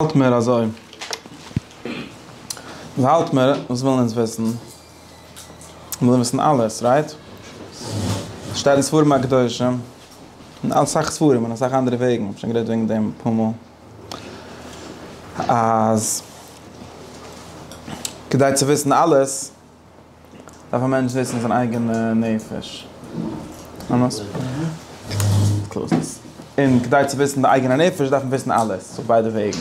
האלט מיר אזוי. האלט מיר וואס ווילן אונז וויסן? מיר ווילן וויסן אלעס, רייט? שטייט אין ספרים הקדושים, אין אסאך ספרים און אסאך אנדערע וועגן, איך האב שוין גערעדט וועגן דעם אפאר מאל, אז כדי צו וויסן אלעס, דארף א מענטש זיצן זיין אייגענע נפש, און כדי צו וויסן די אייגענע נפש דארף מען וויסן אלעס אויף ביידע וועגן.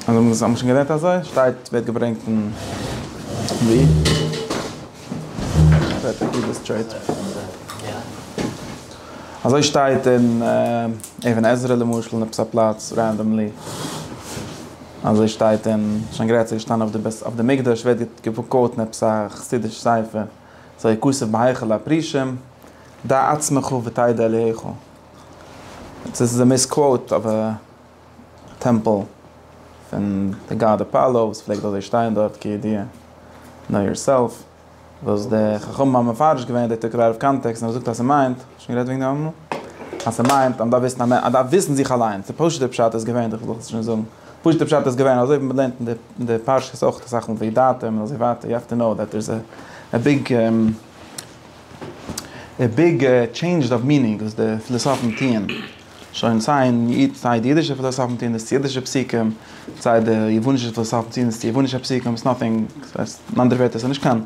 האט מען שוין געלערנט אזוי? שטייט ווערט געברענגט אין אזוי שטייט אין אבן עזרא למשל אין עפעס א פלאץ רענדאמלי. אזוי שטייט אין שוין גרייט צו געשטאנען אויף די בית אויף די מקדש ווערט געקוואוטן עפעס א חסידיש ספר זה כסף בהיכל הפרישים דע עצמך ותדע אליהיך עס איז א מיס קוואוט אויף א טעמפל פון די גאד אפאלא וואס פלעגט אזוי שטיין דארט כידיעה נאו יארסעלף. וואס די חכמים האבן מפרש געווען די תקנה אויף קאנטעקסט און ער זאגט אז ס'מיינט, שוין גערעדט וועגן דעם אמאל? אז ס'מיינט אז מ'דארף וויסן אז מען דארף וויסן זיך אליינס, די פשוט'ע פשט איז געווען, איך זאל עס שוין זאגן, פשוט'ע פשט איז געווען אזוי ווי מען לערנט אין די פרשיות אויך אסאך מאל וידעתם און אזוי ווייטער, יו העוו טו קנאו דעט דער איז א ביג ביג טשעינדזש אוו מינינג וואס די פילאסאפן טוען. שוין סיי אין איד סיי די אידישע פילאסאפן טוען דאס צו אידישע פסוקים, סיי די יוונישע פילאסאפן טוען דאס צו יוונישע פסוקים, איטס נאטינג, ס'הייסט אין אנדערע ווערטער ס'נישט קיין,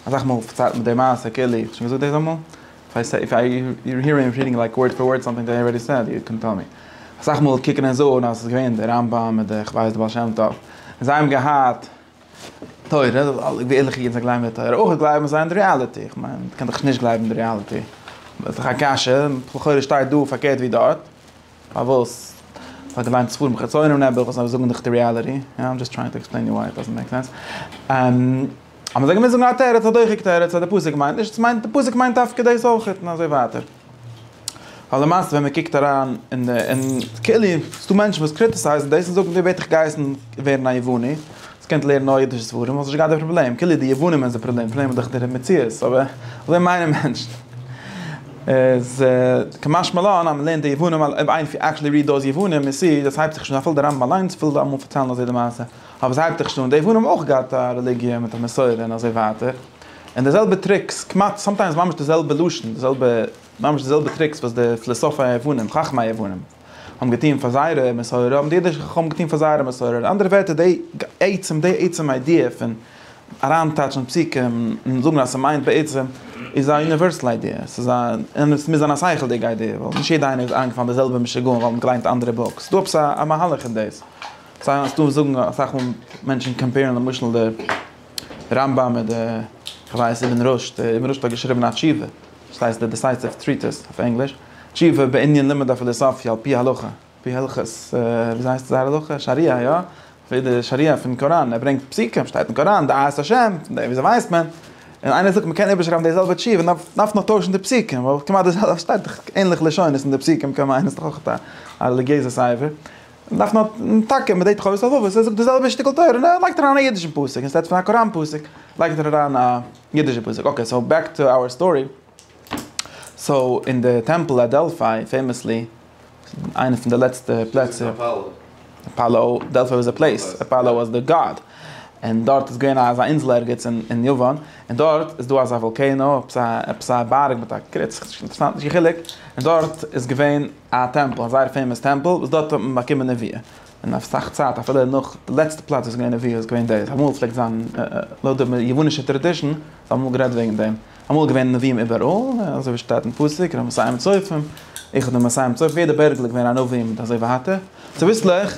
אסאך מאל פארציילט מען די מעשה כאילו איך האב שוין געזאגט דאס אמאל? איף איי סעי יור הירינג רידינג לייק ווארד פאר ווארד סאמטינג דעט איי ארעדי סעד יו קען טעל מי. אסאך מאל קוקן און זאגן אז ס'איז געווען די רמב ם און די כ'ווייס די בעל שם טוב און זיי האבן געהאט. תורה, ווי ערליכע אידן זיי גלייבן אין תורה, אויך גלייבן זיי אין די ריאליטי, איך מיין, מ'קען דאך נישט גלייבן אין די ריאליטי, איז דאך א קשיא, לכאורה שטייט דא פארקערט ווי דארט, פארוואס? כ'האב געליינט ספרים חיצונים נעבעך וואס זאגן דאך די ריאליטי, יא, איים דזשאסט טרייענג טו עקספלעין יו וויי איט דאזענט מעיק סענס. אז מ'זאל געמוזט זאגן א תירוץ, א דוחק תירוץ, אז די פסוק מיינט נישט, ס'מיינט, די פסוק מיינט דווקא דאס אויכעט, און אזוי ווייטער. ווייל למעשה ווען מען קוקט אריין אין די אין כאילו ס'איז דא מענטשן וואס קריטיסייזן דאס און זאגן ווער בעט דיך גייסן ווערן א יווני אז קענסט לערנען נאר אידישע ספרים וואלסט נישט געהאט די פראבלעם כאילו די יוונים איז די פראבלעם די פראבלעם איז דאך דער מציאות אבער אזוי מיינען מענטשן איז כמשמע לן אז מען לערנט די יוונים אויב איינער פירט עקטשעלי ריעד דאוז יוונים יו סי דאס הייבט זיך שוין אן אפילו די רמב ם אליינס וויל אמאל פארציילן אזוי די מעשה אבער עס הייבט זיך שוין אן די יוונים האבן אויך געהאט א רעליגיע מיט א מסורה און אזוי ווייטער. און די זעלבע טריקס, כמעט, סאמטיימס ממש די זעלבע לשון, די זעלבע, ממש די זעלבע טריקס וואס די פילאסאפי היוונים, חכמי היוונים, האבן געטון פאר זייערע מסורה, האבן די אידישע חכמים געטון פאר זייערע מסורה. אין אנדערע ווערטער, די עצם, די עצם איידיע פון אריינטייטשן פסוקים און זאגן אז ס'מיינט בעצם, איז א יוניווערסעל איידיע. ס'איז א, און עס מוז זיין א שכל'דיגע איידיע, ווייל נישט יעדע איינער איז אריינגעפאלן אין די זעלבע משוגעים ווייל מ'האט געליינט אנדערע בוקס. ס'איז דא עפעס א מהלך אין דאס. סא, ס'דא וואס זאגן, אסאך מאל מענטשן קאמפעירן למשל די. רמב ם איז דער, כ'ווייס אבן רשד, דער אבן רשד האט געשריבן א תשובה, וואס הייסט דער דיסייסיוו טריטיס אויף ענגליש, תשובה בענין לימוד הפילוסופיה על פי הלכה, על פי הלכות, וויאזוי הייסט זייער הלכה? שריעה, יא, לפי די שריעה פון קוראן, ער ברענגט פסוקים, שטייט אין קוראן, דעת השם, פון דעם וויאזוי ווייסט מען? און איינער זאגט מ'קען איבערשרייבן די זעלבע תשובה, נאר מ'דארף נאר טוישן די פסוקים, ווייל כמעט די זעלבע, ס'שטייט דאך ענליכע לשונות אין די פסוקים, קען מיינען ס'איז דאך אויך א רעליגיעזע ספר. דארף מען האבן טאקע מדי תחלות הלבבות, ער זאגט די זעלבע שטיקל תורה און ער לייגט אריין א אידישן פסוק, אין סטעד פון א קוראן פסוק לייגט ער אריין א אידישע פסוק, אקעי סאו בעק טו אווער סטארי, סאו אין די טעמפל אט דעלפיי פעימעסלי, איינע פון די לעצטע פלעצער, אפאלא, דעלפיי וואס א פלעיס, אפאלא וואס די גאד, און דארט איז געווען אזא אינזל ערגעץ אין יוון, און דארט איז דא אזא וואלקענא, עפעס א בארג מיט א קריץ, נישט אינטערעסאנט נישט קיין חילוק, און דארט איז געווען. א טעמפל, א זייער פעימאס טעמפל וואס דארט האט מען באקומען נביאה, און אויף אסאך צייט אפילו נאך די לעצטע פלאץ וואס איז געווען נביאה איז געווען דאס, אמאל פלעגט זיין לויט די יוונישע טראדישן האט מען אמאל גערעדט וועגן דעם, אמאל איז געווען נביאים איבעראל, אזוי ווי שטייט אין פסוק רמ מסיים צופים, איחוד המסיים צופים, יעדע בערגל איז געווען א נביא מיט אזוי ווייטער, צוביסלעך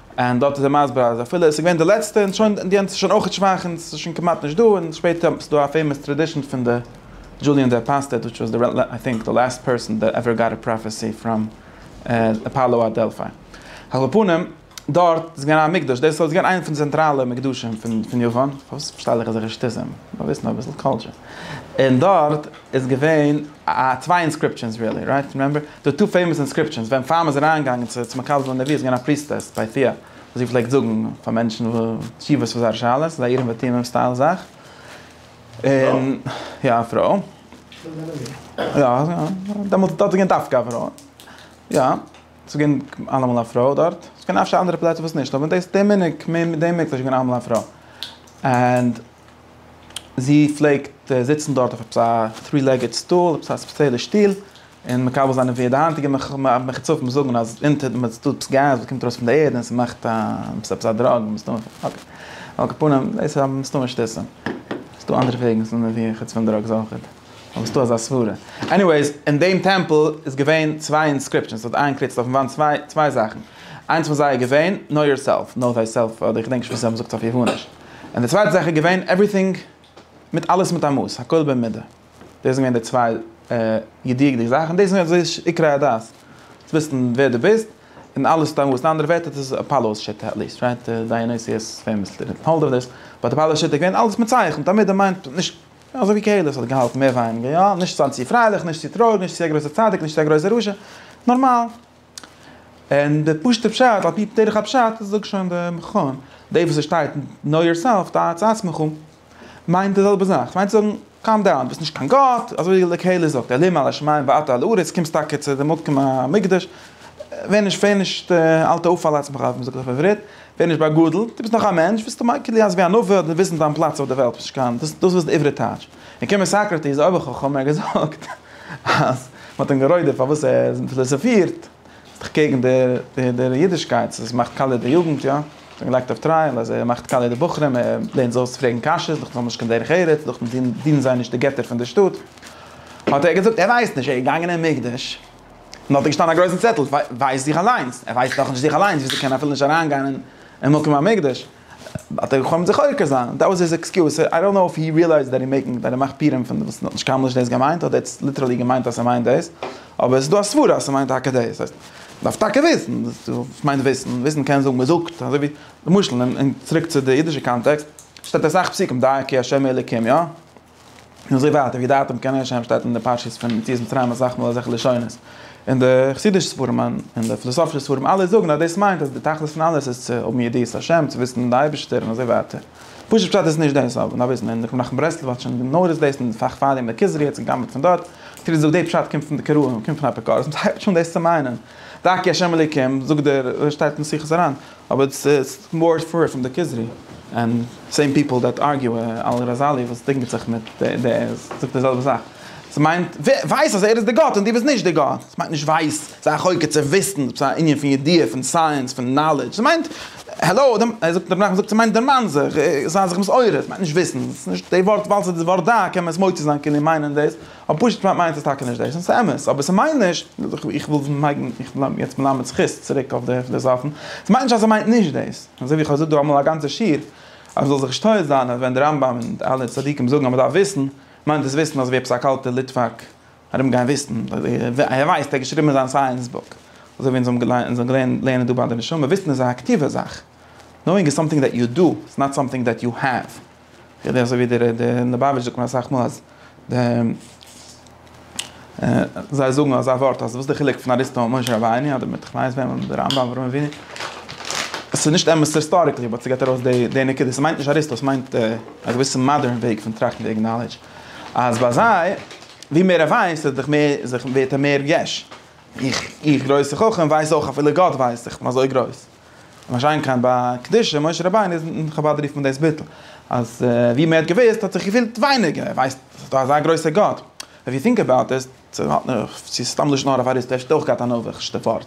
און דארט איז ער מסביר אז אפילו עס איז געווען די לעצטע און שוין די יענץ איז שוין אויכעט שוואך און עס איז שוין כמעט נישט דא און שפעטער האט מען ס'איז דא א פעימאס טרעדישען פון די דזשוליען דער פאסטעט וויטש וואס די איי טינק די לעסט פערסאן דעט עווער גאט א פראפעסי פראם אפאלא אט דעלפיי על כל פנים דארט איז געווען א מקדש דאס איז געווען איינע פון די צענטראלע מקדשים פון יוון פארוואס פארשטייל איך אזעלכע שטותים מיר וויסן אביסל קולטשער און דארט. איז געווען א צוויי אינסקריפשענס רילי רייט פון רעמבער די טא פעימאס אינסקריפשענס ווען פאר מ'איז אריין געגאנגען צו צו מקבל זיין די ווי איז געווען א פריסטעס ביי טיע וואס זי פלעגט זאגן פאר מענטשן תשובות פאר זייערע שאלות אזא אירים ותומים סטייל זאך און יא א פרוי יא דעמאלטס דארט איז געווען דווקא א פרוי יא ס'איז געווען אלעמאל א פרוי דארט ס'קען אפשר אנדערע פלעצער וואס נישט אבער דאס די מנהג די מנהג איז געווען אלעמאל א פרוי ענד זי פלעגט זיצן דארט אויף עפעס א טרי לעגעד סטול, עפעס א ספעציעלע שטול, און מקבל זיין וועד. די היינטיגע מחוצפים זאגן אז אונטער דעם איז דא עפעס געז וואס קומט ארויס פון די ערד און ס'מאכט א עפעס א דראג מסתמא. על כל פנים, דאס איז מסתמא שטותים. ס'איז דא אנדערע וועגן צו נערווירן חוץ פון דראגס אויכעט. אבער ס'איז דא אזא סברה. עניוועיס, אין דעם טעמפל איז געווען צוויי אינסקריפשאנס. ס'האט איינגעקריצט אויפן וואנט צוויי צוויי זאכן. איינס פון זיי איז געווען, Know Yourself, נאו דיי סעלף, אדער איך געדענק נישט וואס זיי האבן געזאגט אויף יאפאניש. און די צווייטע זאך איז געווען עווריטינג מיט אלעס מיט א מאס, הכל במידה, דאס זענען געווען די צוויי ידיעות'דיגע זאכן, דאס איז געווען די עיקרי הדת, צו וויסן ווער דו ביסט, און אלעס מיט א מאס, אין אנדערע ווערטער דאס איז אפאלא'ס שיטה, עטליעסט רייט דיאניסיוס פעימאסלי דידנט האלד אויף דעס, באט אפאלא'ס שיטה איז געווען אלעס מיט צייכן, תמיד דער מיינד נישט, אזוי ווי קהלת האט געהאלטן מער ווייניגער, יא, נישט זיין צו פרייליך, נישט צו טרויעריג, נישט צו א גרויסער צדיק, נישט צו א גרויסער רשע, נארמאל. און די פשוט'ע פשט על פי דרך הפשט זאגט שוין די מכון, די וואס עס שטייט נאו יור סעלף דעת את עצמך מיינט די זעלבע זאך, ס'מיינט צו זאגן קאם דאון דו ביסט נישט קיין גאט, אזוי ווי די קהלה זאגט אלוהים על השמים ואתה על הארץ, קומסט טאקע צו די מקום המקדש, ווער נישט ווער נישט אל תעוף על עצמך ווי מ'זאגט אויף עברית, ווער נישט באגאדלט, דו ביסט נאך א מענטש, ביסטו מייקל יעז ווי א נביא האט וויסן דיין פלאץ אויף די וועלט, דאס איז די עברית טייטש. און קומען סאקראטיס אויב איך האב חו מ געזאגט אז מען האט אים גערוידערט פארוואס ער פיליסאפירט איז דאך קעגן דער אידישקייט עס מאכט קאליע די יוגנט יא עס ווערט געלייגט אויף טרייעל אז ער מאכט קאליע די בחורים ער לערנט זיי אויס פרעגן קשיות איז דאך נאך נישט קיין דרך ארץ איז דאך דינען זיי נישט די געטער פון די שטאט האט ער געזאגט ער ווייסט נישט ער איז געגאנגען אין מקדש און דארט איז געשטאנען א גרויסן צעטל ווייסט זיך אליינס ער ווייסט דאך נישט זיך אליינס וויאזוי קען ער אפילו נישט אריינגיין אין מקום המקדש. האט ער געחלומט זיך עוקר זיין, דעט וואס היז עקסקיוז, סאו איי דאנט נאו איף הי ריעלייזד דעט הי מעקינג, דעט ער מאכט פירעם פון וואס האט נישט קיינמאל נישט דאס געמיינט, אדער עטס ליטערלי געמיינט אז ס'מיינט דאס, אבער ס'דא א סברה אז ס'מיינט טאקע דאס, ס'הייסט, מ'דארף טאקע וויסן, וואס מיינט וויסן? וויסן קען זאגן מ'זאגט, אזוי ווי, למשל, און צוריק צו די אידישע קאנטעקסט, שטייט אסאך פסוקים דייקי השם אלוקים, יא? און אזוי ווייטער ווי דער אטעם קען ערשט זיין שטייט אין די פרשיות פון יציאת מצרים אסאך מאל אזעלכע לשונות און די חסידישע ספרים און די פילאסאפישע ספרים אלע זאגן אז דאס מיינט אז די תכלית פון אלעס איז צו האבן ידיעת השם צו וויסן די אייבישטער און אזוי ווייטער פשוט פשט איז נישט דאס אבער נאר וויסן און רבי נחמן ברסלב האט שוין גענארישט דאס אין פאך פאר דעם דער כוזרי האט זיך גע'גנב'ט פון דארט האט ער געזאגט דער פשט קומט פון די קראים קומט פון אפיקורסים הייבט שוין דאס צו מיינען דאקי השם אלוקים זאגט דער שטייט אין שיחות הרן. אבער איטס איטס מאר ספערעט פרום די כוזרי ענד סעים פיפעל דעט ארגיו על ראזאלי וואס דינגעט זיך מיט די זאגט די זעלבע זאך עס מיינט ווייס אז ער איז די גאט און די ביסט נישט די גאט עס מיינט נישט ווייס זיי א חוקר צו וויסן עפעס א ענין פון ידיעה פון סייענס פון נאלעדזש עס מיינט העלאו דעם ער זאגט דערנאך זאגט עס מיינט דערמאן זיך זיי זיך מסעורר עס מיינט נישט וויסן עס איז נישט די ווארט ווייל עס איז די ווארט דא קען מען עס מוציא זיין כאילו מיינען דאס. אבער פשוט מיינט עס טאקע נישט דאס, און ס'איז אמת, אבער ס'מיינט נישט, איך וויל מעגן, איך בין יעצט מלמד זכות, צוריק אויף די פילאזאפן, ס'מיינט נישט אז ער מיינט נישט דאס, אזוי ווי איך האב געזאגט דא אמאל א גאנצע שיעור, אז מ'זאל זיך נישט טועה זיין אז ווען די רמב ם און די אלע צדיקים זאגן אז מ'דארף וויסן, מיינט דאס וויסן אזויווי עפעס א קאלטער ליטוואק ארום גיין וויסן, ער ווייסט, ער האט געשריבן אין זיין סייענס בוק, אזוי ווי אונז האבן געלערנט לערנען דא ביי די נשמה, וויסן איז א אקטיווע זאך, נאואינג איז סאמטינג דעט יו דו, איטס נאט סאמטינג דעט יו העוו. כדי אזוי ווי דער ליבאוויטש זאגט מיר אסאך מאל אז די זיי זאגן אזא ווארט אז וואס איז די חילוק פון אריסטו און משה רבינו אדער מיט כ'ווייס וועם אדער רמב ם אדער אברהם אבינו עס איז נישט אמת היסטאריקלי באט ס'געט ארויס די די נקודה ס'מיינט נישט אריסטו ס'מיינט א געוויסע מאדערן וועג פון טראכטן וועגן נאלעדזש אז ביי זיי ווי מער ער ווייסט איז דאך מער זיך ווערט ער מער יש איך איך גרויסע חכם ווייס אויך אפילו גאט ווייסט איך בין אזוי גרויס. משאין כן ביי קדושה, משה רבינו איז אין חבד רופט מען דאס ביטול, אז ווי מען האט געוואוסט האט זיך געפילט ווייניגער, ער ווייסט עס איז דא אזא גרויסע גאט, איף יו טינק אבאוט איט, צו האט מען, צו איז סתם לשון הרע פאר איז, וועסטו אויך געהאט א נאוויכשטע ווארט,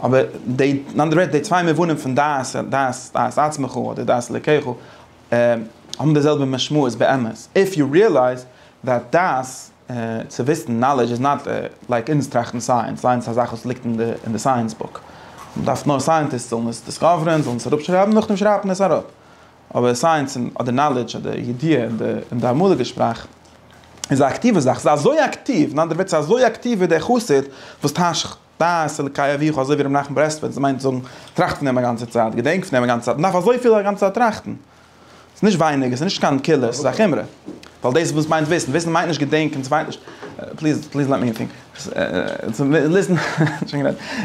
אבער די, אין אנדערע ווערטער די צוויי מובנים פון דעת, דעת, דעת עצמך אדער דעת אלקיך, האבן די זעלבע משמעות באמת, איף יו ריעלייז דעט דעת. צו וויסן, נאלעדזש איז נאט לייק אונז טראכטן סייענס, סייענס איז א זאך וואס ליגט אין די סייענס בוק, מען דארף נאר סייענטיסט זאלן עס דיסקאווערען, זאלן עס אראפשרייבן, נאכדעם שרייבט מען עס אראפ, אבער סייענס אדער נאלעדזש אדער ידיעה אין די אמאליגע שפראך איז א אקטיווע זאך, ס'איז אזוי אקטיוו, אין אנדערע ווערטער ס'איז אזוי אקטיוו ווי דער חסיד וואס טייטשט. דעת אלקי אביך אזוי ווי ר' מנחם ברסלבער, דאס מיינט זאגן, טראכט פון דעם א גאנצע צייט, געדענק פון דעם א גאנצע צייט, מ'דארף אזויפיל א גאנצע צייט טראכטן. ס'איז נישט ווייניג, עס איז נישט קיין קולא, ס'איז א חומרא. ווייל דאס וואס מיינט וויסן, וויסן מיינט נישט געדענקען, ס'מיינט נישט, פליז, פליז לעט מי טינק,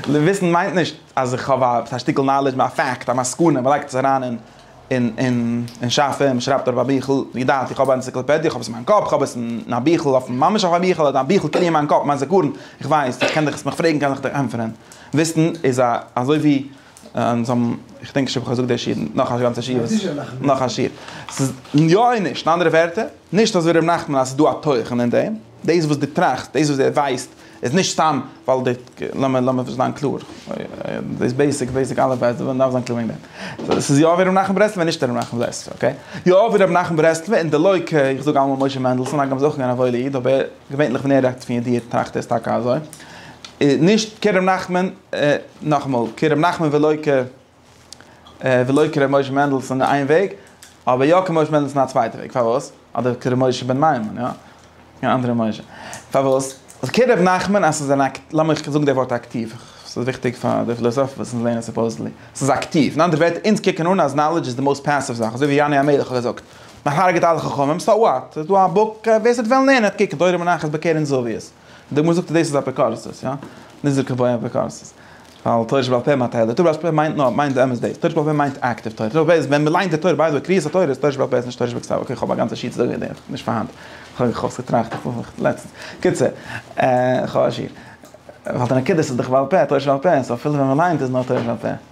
וויסן מיינט נישט אז איך האב א שטיקל נאלעדזש, א פאקט, א מסקנא, מ'לייגט עס אריין אין. און, און, און שאף ע, מ'שרייבט אויף א ביכל, ווי געדאנק, איך האב א ענציקלאפעדיע, איך האב עס אין מיין קאפ, איך האב עס אין א ביכל, אויפן, ממש אויף א ביכל, אדער א ביכל קען איך אין מיין קאפ, מיין זיכרון, איך ווייס, איך קען דיך, מיך פרעגן קען איך דיך ענטפערען. וויסן איז א, אזוי ווי, און זיי האבן, איך דענק נישט אויב איך האב געזאגט די שיעור, נאך א גאנצע שיעור וואס, נאך א שיעור. ס'איז, יא און נישט, און אנדערע ווערטער, נישט אזוי ווי ר' נחמן אז ס'איז דא א תוכן אין דעם, דאס וואס דו טראכסט, דאס וואס ער ווייסט, איז נישט סתם ווייל די, לאמיר, לאמיר זיין קלאר, דאס בעיסיק, בעיסיק אלף בית, ווען מען דארף זיין קלאר וועגן דעם. עס איז יא ווי רבי נחמן ברסלב און נישט רבי נחמן ברסלב, אקעי? יא ווי רבי נחמן ברסלב און די לוי' כ, איך זאג אלעמאל משה מענדלסאן, הגם איז אויך געווען א וואוילע איד, אבער געווענליך ווען ער רעדט פון ידיעה טראכט ער עס טאקע אזוי. נישט כרבי נחמן, נאכאמאל, כרבי נחמן ולא כ. ולא כר' משה מענדלסון איין וועג, אבער יא כר' משה מענדלסון א צווייטע וועג, פארוואס? אדער כר' משה בן מימון, יא? קיין אנדערע משה. פארוואס? אז כר' ר' נחמן אז ס'איז אן אק, לאמיך זאגן די ווארט אקטיוו, ס'איז וויכטיג פאר די פילאזאפן וואס אונז לערנען סופאוזעדלי. ס'איז אקטיוו, אין אנדערע ווערטער, אונז קוקן אן אז נאלעדזש איז די מאוסט פעסיוו זאך, אזוי ווי יונה המלך האט געזאגט, מ'הרג'עט אלע חכמים, סאו וואט? ס'איז דא א בוק, ווער ס'וועט וועלן לערנען האט קוקן, תורה מונחת בקרן זווית. די גמרא זאגט אז דאס איז אפיקורסות, יא? נישט זיכער פאר אפיקורסות. ווייל תורה שבעל פה מיינט טייל, תורה שבעל פה מיינט נאר, מיינט באמת דאס. תורה שבעל פה מיינט אקטיוו תורה. תורה שבעל פה איז ווען מ'ליינט די תורה, ביי די וועי קריאת התורה איז תורה שבעל פה איז נישט תורה שבכתב. אקעי כ'האב א גאנצע שיעור צו זאגן וועגן דעם, נישט פארהאן. כ'האב איך האב עס געטראכט לעצטנס. קיצור, כ'האב א שיעור. ווייל די נקודות איז דאך בעל פה, תורה שבעל פה, סאו אפילו ווען מ'ליינט איז נאר תורה שבעל פה.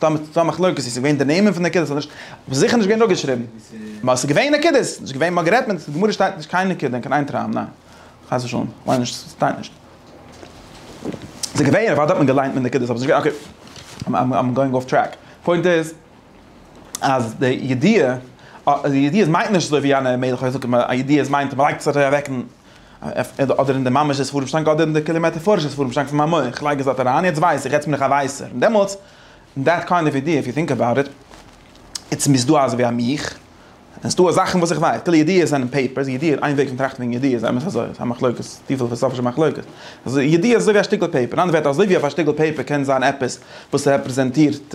דא האט מען א מחלוקת איז עס געווען די נעמען פון נקודות אדער נישט, אבער זיכער נישט געווען דא געשריבן, מאר עס איז געווען נקודות, עס איז נישט געווען מאר גערעדט מען, די גמרא שטייט נישט קיין נקודה אין קיין איין טראם, ניין, חס ושלום, איך מיין נישט, ס'שטייט נישט. עס איז געווען, אוודאי האט מען געליינט מיט נקודות, אבער עס איז געווען, אקעי, איים גאוינג אףף טרעק, פוינט איז אז די ידיעה, א ידיעה מיינט נישט אזוי ווי יענע מלך האט געזאגט, א ידיעה מיינט אז מען לייגט עס אוועק אין. אדער אין די ממש'ע ספרים שטאנק אדער אין די כולי מעטאפארישע ספרים שטאנק פון מיין מח, איך לייג עס דארט אריין, יעצט ווייס איך, יעצט בין איך א ווייסער, און דעמאלטס, אין דעט קיינד אוו אידעע, איף יו טינק אבאוט איט, איטס מיר איז דא אזוי ווי א מיך, און ס'דא זאכן וואס איך ווייס, כאילו ידיעות זענען פעיפערס, ידיעות איז איין וועג פון טראכטן וועגן ידיעות, אמת אזוי, ס'איז א מחלוקת, צופיל פילאסאפישע מחלוקת, אזוי ידיעות איז אזוי ווי א שטיקל פעיפער, אין אנדערע ווערטער אזוי ווי אויף א שטיקל פעיפער קען זיין עפעס וואס רעפרעזענטירט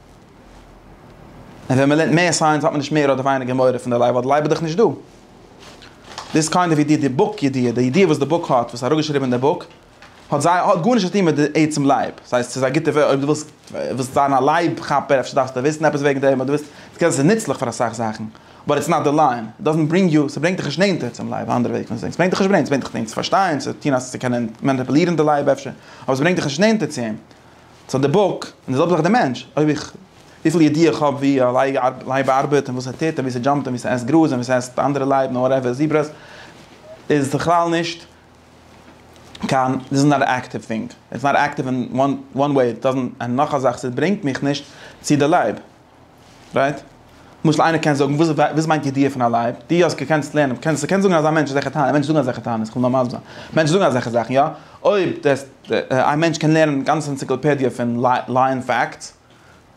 און ווען מען לערנט מער סייענס האט מען נישט מער אדער ווייניגער מורא פון די לייב ווייל די לייב איז דאך נישט דא. דאס איז קיינדע ווי די די בוק ידיעה, די ידיעה וואס די בוק האט, וואס אראפגעשריבען אין די בוק, האט זיי האט גארנישט צו טוהן מיט די עצם לייב, סאיז סאיז א גוטע אויב די ווילסט ווילסט זיין א לייב כאפער אפשר דארפסטו וויסן עפעס וועגן דעם אדער ווילסט סקען סאיז נוצליך פאר אסאך זאכן באט איטס נאט די ליין איט דאזענט ברינג יו סברענגט דיך נישט נענטער צום לייב אנדערע וועג פון זעהן סברענגט דיך נישט ברענגט סברענגט דיך צו פארשטיין צו טוהן אז צו קענען מאניפעלירן די לייב אפשר אבער סברענגט דיך נישט נענטער צו אים. סאו די בוק, און די זעלבע זאך די מענטש, אויב איך, וויפיל ידיעה איך האב ווי א לייב ארבעט, און וואס ער טוט, און ווי ס'דזשאמפט, און ווי ס'עסט גראז, און ווי ס'עסט אנדערע לייב, און וואטעווער, זיברעס, איז בכלל נישט קיין, דיס איז נאט עקטיוו טינג, איטס נאט עקטיוו אין וואן וועי, איט דאזענט, און נאך א זאך, ס'ברענגט מיך נישט צו די לייב. רייט? למשל איינער קען זאגן, וואס וואס מיינט ידיעה פון א לייב? די אז קענסט לערנען, קענסט קענסט זאגן אז א מענטש איז זיך טענה'ען, מענטשן זאגן אזעלכע טענות, איך וויל נאר מסביר זיין, מענטשן זאגן אזעלכע זאכן, יא? אויב דעס א מענטש קען לערנען גאנצע אנציקלאפעדיע פון לייען פאקטס,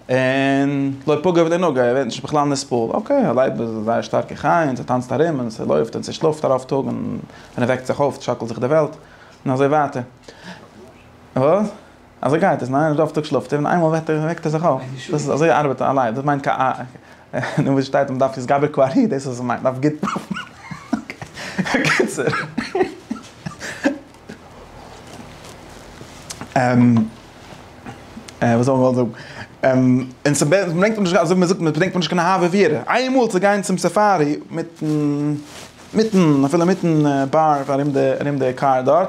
און לא פגע ולא נגע, ער ווערט נישט בכלל נסבל, אקעי, א לייב איז א זייער שטארקע חיה, און ס'טאנצט ארום, און ס'לויפט, און ס'שלאפט א רוב טאג, און ווען ער וועקט זיך אויף שאקלט זיך די וועלט, און אזוי ווייטער. וואס? אזוי גייט עס, ניין? רוב טאג שלאפט ער און איינמאל וועט ער וועקט ער זיך אויף. דאס איז אזוי ארבעט א לייב, דאס מיינט קיין א נו וואס שטייט מען דארף התגבר כ א ר י דאס איז וואס מ'מיינט, מ'דארף גוט אוקיי בקיצור. און וואס האב איך געוואלט זאגן? און און ס'ברענגט נישט אזוי ווי מ'זאגט מיר ס'ברענגט מיר נישט קיין אהבה ויראה איינמאל צו גיין צום סאפארי מיטן מיטן אפילו מיטן באר ארום די ארום די קאר דארט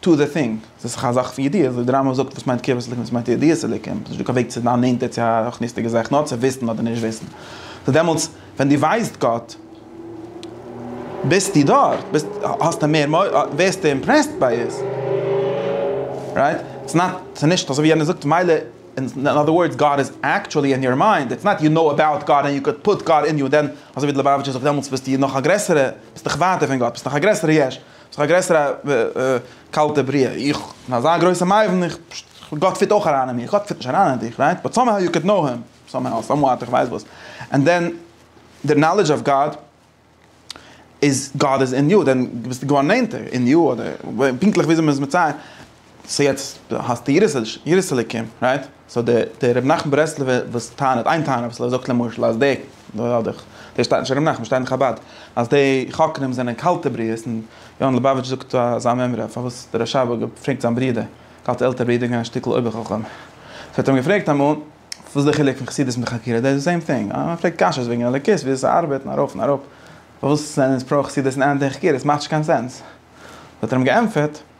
טו דע טינג, עס איז דאך א זאך פון ידיעה, וואס דער רמב ם זאגט וואס מיינט קרבת אלוקים וואס מיינט ידיעת אלוקים, עס איז נישטא קיין וועג צו זיין נענטער צו א רוחניות'דיגע זאך נאר צו וויסן אדער נישט וויסן, סאו דעמאלטס ווען דו ווייסט גאט ביסטו דארט, ביסט האסטו מער מ א, ווערסטו אימפרעסט ביי עס, רייט? איטס נאט, ס'איז נישט אזוי ווי יענער זאגט מילא, אין אדער ווארדס גאט איז עקטשועלי אין יור מיינד, איטס נאט יו נאו אבאוט גאט און יו קען פוט גאט אין יו, דען אזוי ווי די ליובאוויטשער זאגט דעמאלטס ביסטו נאך א גרעסערע, ביסט נאך ווייטער פון גאט, ביסט נאך א גרעסערע יש. ס'איז דאך א גרעסערע קאלטע בריאה, איך בין אזא גרויסע מבין, גאט פיט אויך אריין אין מיר, גאט פיט נישט אריין אין דיך, רייט? באט סאמהאו יו קען קנאו הים, סאמהאו, סאמוואט, איך ווייס וואס, ענד דען די נאלידזש אוו גאד איז, גאד איז אין יו, דען ביסטו געווארן נענטער אין יו, אדער פונקטליך וויאזוי מ'איז מצייר, סאו יעצט דו האסט די יראת אלוקים רייט? סאו דער רבי נחמן ברסלב'ער וואס טענה'ט איין טענה וואס ער זאגט למשל אז די, דאס שטייט נישט אין רבי נחמן שטייט אין חבד, אז די חוקרים זענען קאלטע בריות און יונה לעבאוויטש זאגט אזא מימרא פארוואס דער רשב א האט געפרעגט זיין ברודער, קאלטע עלטערע ברודער איז געווען א שטיקל אויבער חכם, סאו האט ער אים געפרעגט אמאל וואס איז די חילוק פון חסידות מיט חקירה דאס איז די סעים טינג, מען פרעגט קשיות וועגן אלוקות ווי אזוי ס'ארבעט און ארויף און אראפ פארוואס זענען אונז פרא חסידות און אנטי חקירות ס'מאכט נישט קיין סענס האט ער אים געענטפערט.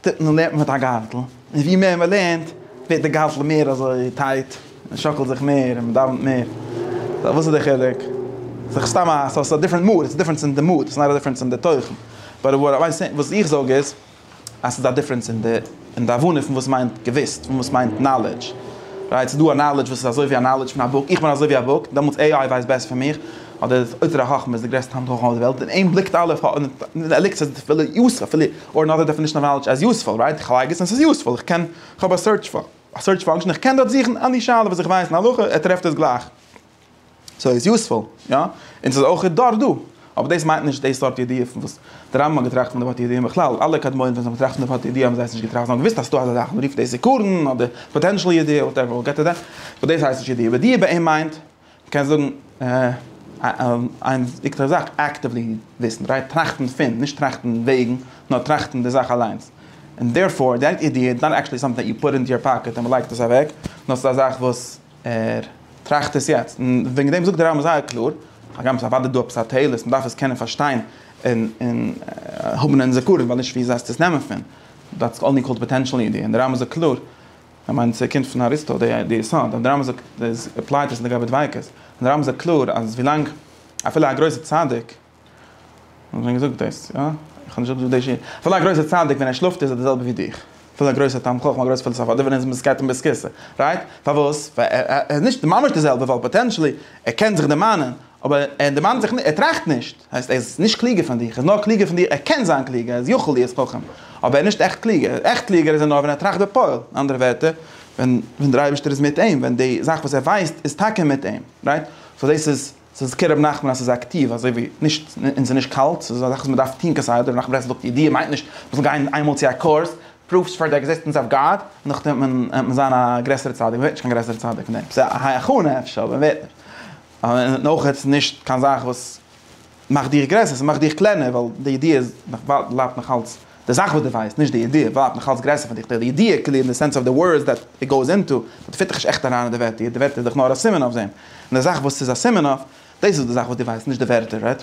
טוט מען לערנט מען מיט א גארטל, און ווי מער מען לערנט ווערט די גארטל מער אזוי טייט, מען שאקלט זיך מער און מען דאווענט מער, סא וואס איז די חילוק? ס'איז סתם א סא ס'איז א דיפרענט מאד, ס'איז דיפרענס אין די מאד, ס'איז נאט א דיפרענס אין די תוכן, באט וואט אוו סעי וואס איך זאג איז אז ס'איז א דיפרענס אין די אין די הבנה פון וואס מיינט געוויסט און וואס מיינט נאלעדזש, רייט? ס'איז דא א נאלעדזש וואס איז אזוי ווי א נאלעדזש פון א בוק, איך בין אזוי ווי א בוק, דעמאלטס עי איי ווייסט בעסער פון מיך, אדער אוצר החכמה איז די גרעסטע הון חכמה אויף די וועלט, און אים בליקט אלע, ער ליגט אויף די פילע יאסע, פילע. אור נאט א דעפענישן אוו נאלעדזש עז יוספול, רייט? איך לייג עס און ס'איז יוספול, איך קען, כ'האב א סערטש פא, א סערטש פאנקשען, איך קען דארט זוכן עני שאלה וואס איך ווייס אין הלכה, ער טרעפט עס גלייך. סאו איז יוספול, יא? און ס'איז אויך דארט דא. אבער דאס מיינט נישט די סארט ידיעה פון וואס די רמב ם האט געטראכט פון די ווארט ידיעה, און בכלל אלע קדמונים ווען זיי האבן געטראכט פון די ווארט ידיעה האבן זיי עס נישט געטראכט, זיי האבן געוואוסט אז ס'דא אזא זאך, מ'רופט דאס עיקרון, אדער פאטענשעל ידיעה, וואטעווער, וויל געט איט דעט, באט דאס הייסט נישט ידיעה, ידיעה ביי אים מיינט, מ'קען זאגן איין עיקר זאך, אקטיוולי וויסן, רייט טראכטן פון, נישט טראכטן וועגן, נאר טראכטן די זאך אליינס. און דערפאר, די איידיע איז נאט עקטשעלי סאמטינג דעט יו פוט אינטו יור פאקעט און מ'לייגט עס אוועק, נאר ס'איז א זאך וואס ער טראכט עס יעצט. און וועגן דעם זאגט דער רמב ם זייער קלאר, הגם ס'איז אוודאי דא עפעס א תועלת, און מ'דארף עס קענען פארשטיין און און האבן אין זכרון, ווייל נישט ווי זייסטו עס נעמען פון, דעטס אנלי קאלד פאטענשעל איידיע. און דער רמב ם זאגט קלאר. איך מיין ס'קומט פון אריסטו די די יסוד אז די רמב ם זאגט איז עפלייט עס לגבי דביקות, און די רמב ם זאגט קלאר אז ווילאנג אפילו א גרויסע צדיק, האט מען שוין געזאגט דאס? יא? איך האב נישט אויסגעזוכט די שיעור, אפילו א גרויסע צדיק ווען ער שלאפט איז ער די זעלבע ווי דיך, אפילו א גרויסע תלמיד חכם א גרויסע פילאסאף אדער ווען ער איז מיט זקעטע און ביסקיסע, רייט? פארוואס? ווייל ער איז נישט ממש די זעלבע ווייל פאטענשעלי ער קען זיך דערמאנען אבער ער דערמאנט זיך נישט, ער טראכט נישט, הייסט ער איז נישט קלוגער פון דיך, ער איז נאר קלוגער פון דיר, ער קען זיין קלוגער, ער איז יכול להיות חכם, אבער ער איז נישט עכט קלוגער, עכט קלוגער איז ער נאר ווען ער טראכט בפועל, אין אנדערע ווערטער, ווען ווען דער אייבערשטער איז מיט אים, ווען די זאך וואס ער ווייסט איז טאקע מיט אים, רייט? סאו דאס איז, ס'איז כר' רבי נחמן אז ס'איז אקטיוו, אזוי ווי נישט, און ס'איז נישט קאלט, ס'איז א זאך וואס מ'דארף טון כסדר, רבי נחמן מברסלב זאגט ידיעה מיינט נישט מ'זאל גיין איינמאל צו א קורס, פרופס פאר די עקזיסטענס אוו גאד, און נאכדעם וועט מען זיין א גרעסערע צדיק, מ'ווערט נישט קיין גרעסערע צדיק פון דעם, ס'איז א הכנה אפשר, אבער מ'ווערט נישט. און אויך איז נישט קיין זאך וואס מאכט דיך גרעסער, ס'מאכט דיך קלענער, ווייל די ידיעה איז נאך בלייבט נאך אלץ די זאך וואס דו ווייסט, נישט די ידיעה, בלייבט נאך אלץ גרעסער פון דיך, די ידיעה כאילו אין די סענס אוו די ווארדס דעט איט גאוס אינטו, באט פיט דיך נישט עכט אריין אין די ווערטער, די ווערטער איז דאך נאר א סימן אויף דעם, און די זאך וואס ס'איז א סימן אויף, דאס איז די זאך וואס דו ווייסט, נישט די ווערטער, רייט?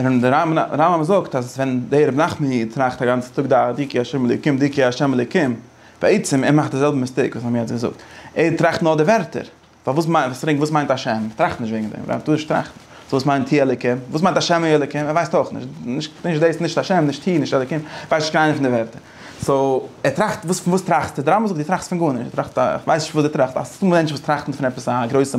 און דער רמב ם זאגט אז ווען דער רבי נחמן איד טראכט א גאנצע טאג דא דיקי השם אלוקים דיקי השם אלוקים, בעצם ער מאכט די זעלבע מיסטעיק וואס מיר האבן יעצט געזאגט, ער טראכט נאר די ווערטער, פארוואס מיינט וואס רענג וואס מיינט השם, ער טראכט נישט וועגן דעם, ער טאר נישט טראכטן, סאו וואס מיינט ה' אלוקים, וואס מיינט השם ה' אלוקים, ער ווייסט אויך נישט, נישט נישט דאס נישט השם נישט ה' נישט אלוקים, ווייסט נישט קיין איינע פון די ווערטער, סאו ער טראכט וואס פון וואס טראכסטו, דער רמב ם זאגט דו טראכסט פון גארנישט, דו טראכסט א כ'ווייס נישט פון וואס דו טראכסט, א סתם מענטש וואס טראכט פון עפעס א גרויסע.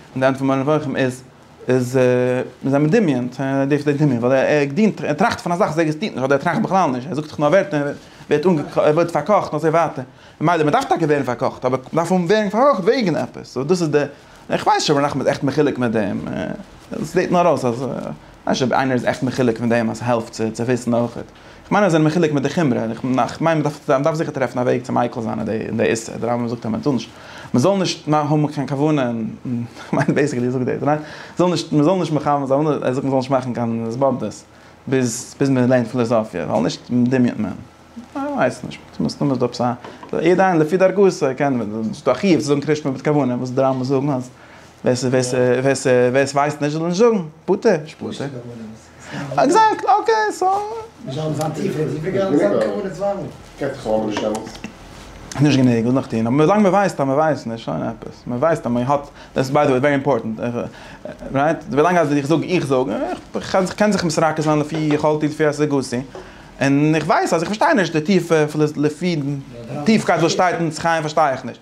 און די ענד פון מורה נבוכים איז איז מיר זענען מדמיין צו ער דארף זיך דמיון ווייל ער געדינט ער טראכט פון א זאך וואס עקזעסטירט נישט אדער ער טראכט בכלל נישט ער זאגט זיך נאר ווערטער און ווערט אנגעקאכט ער ווערט פארקאכט און אזוי ווייטער ממילא מען דארף טאקע ווערן פארקאכט אבער מען דארף ווערן פארקאכט וועגן עפעס סאו דאס איז די איך ווייס נישט אויב ר' נחמן איז עכט מחולק מיט דעם עס זעט נאר אויס אז כ'ווייס נישט אויב איינער איז עכט מחולק מיט דעם אז ס'העלפט צו וויסן אויכעט. כ'מיין אז זיי זענען מחולק מיט די חומרא, און כ'מיין מ'דארף זיכער טרעפן א וועג צו מיקל זיין אין די איסור, די רמב ם זאגט אז מ'זאל נישט, מ'זאל נישט האבן קיין כוונה אין, כ'מיין בעיסיקלי זאגט דאס, ניין? זאל נישט, מ'זאל נישט מכוון זיין, ער זאגט מ'זאל נישט מאכן קיין התבודדות ביז ביז מ'לערנט פילאזאפיע, ווייל נישט דמיונ'ט מען. כ'ווייס נישט, מסתמא איז דא עפעס א, יעדער איינער לפי דרכו, ס'קען, ס'איז דא א חיוב צו זאגן קרישמע מיט כוונה, וואס די רמב ם זאגן אז ווער ס'ווייסט נישט זאל נישט זאגן, פטור, נישט פטור. עקזעקט אקעי סאו. נישט גענוג, וואס נאך טון? אבער ווילאנג מען ווייסט אז מען ווייסט נישט, שוין עפעס. מען ווייסט אז מען האט, דאס איז ביי די וועי ווערי אימפארטענט, רייט? ווילאנג אז איך זאג, איך זאג, איך קען זיך מסרקע זיין לפי יכולתי לפי השגתי, און איך ווייס אז איך פארשטיי נישט די טיפע, לפי טיפקייט וואס שטייט אין עץ חיים פארשטיי איך נישט,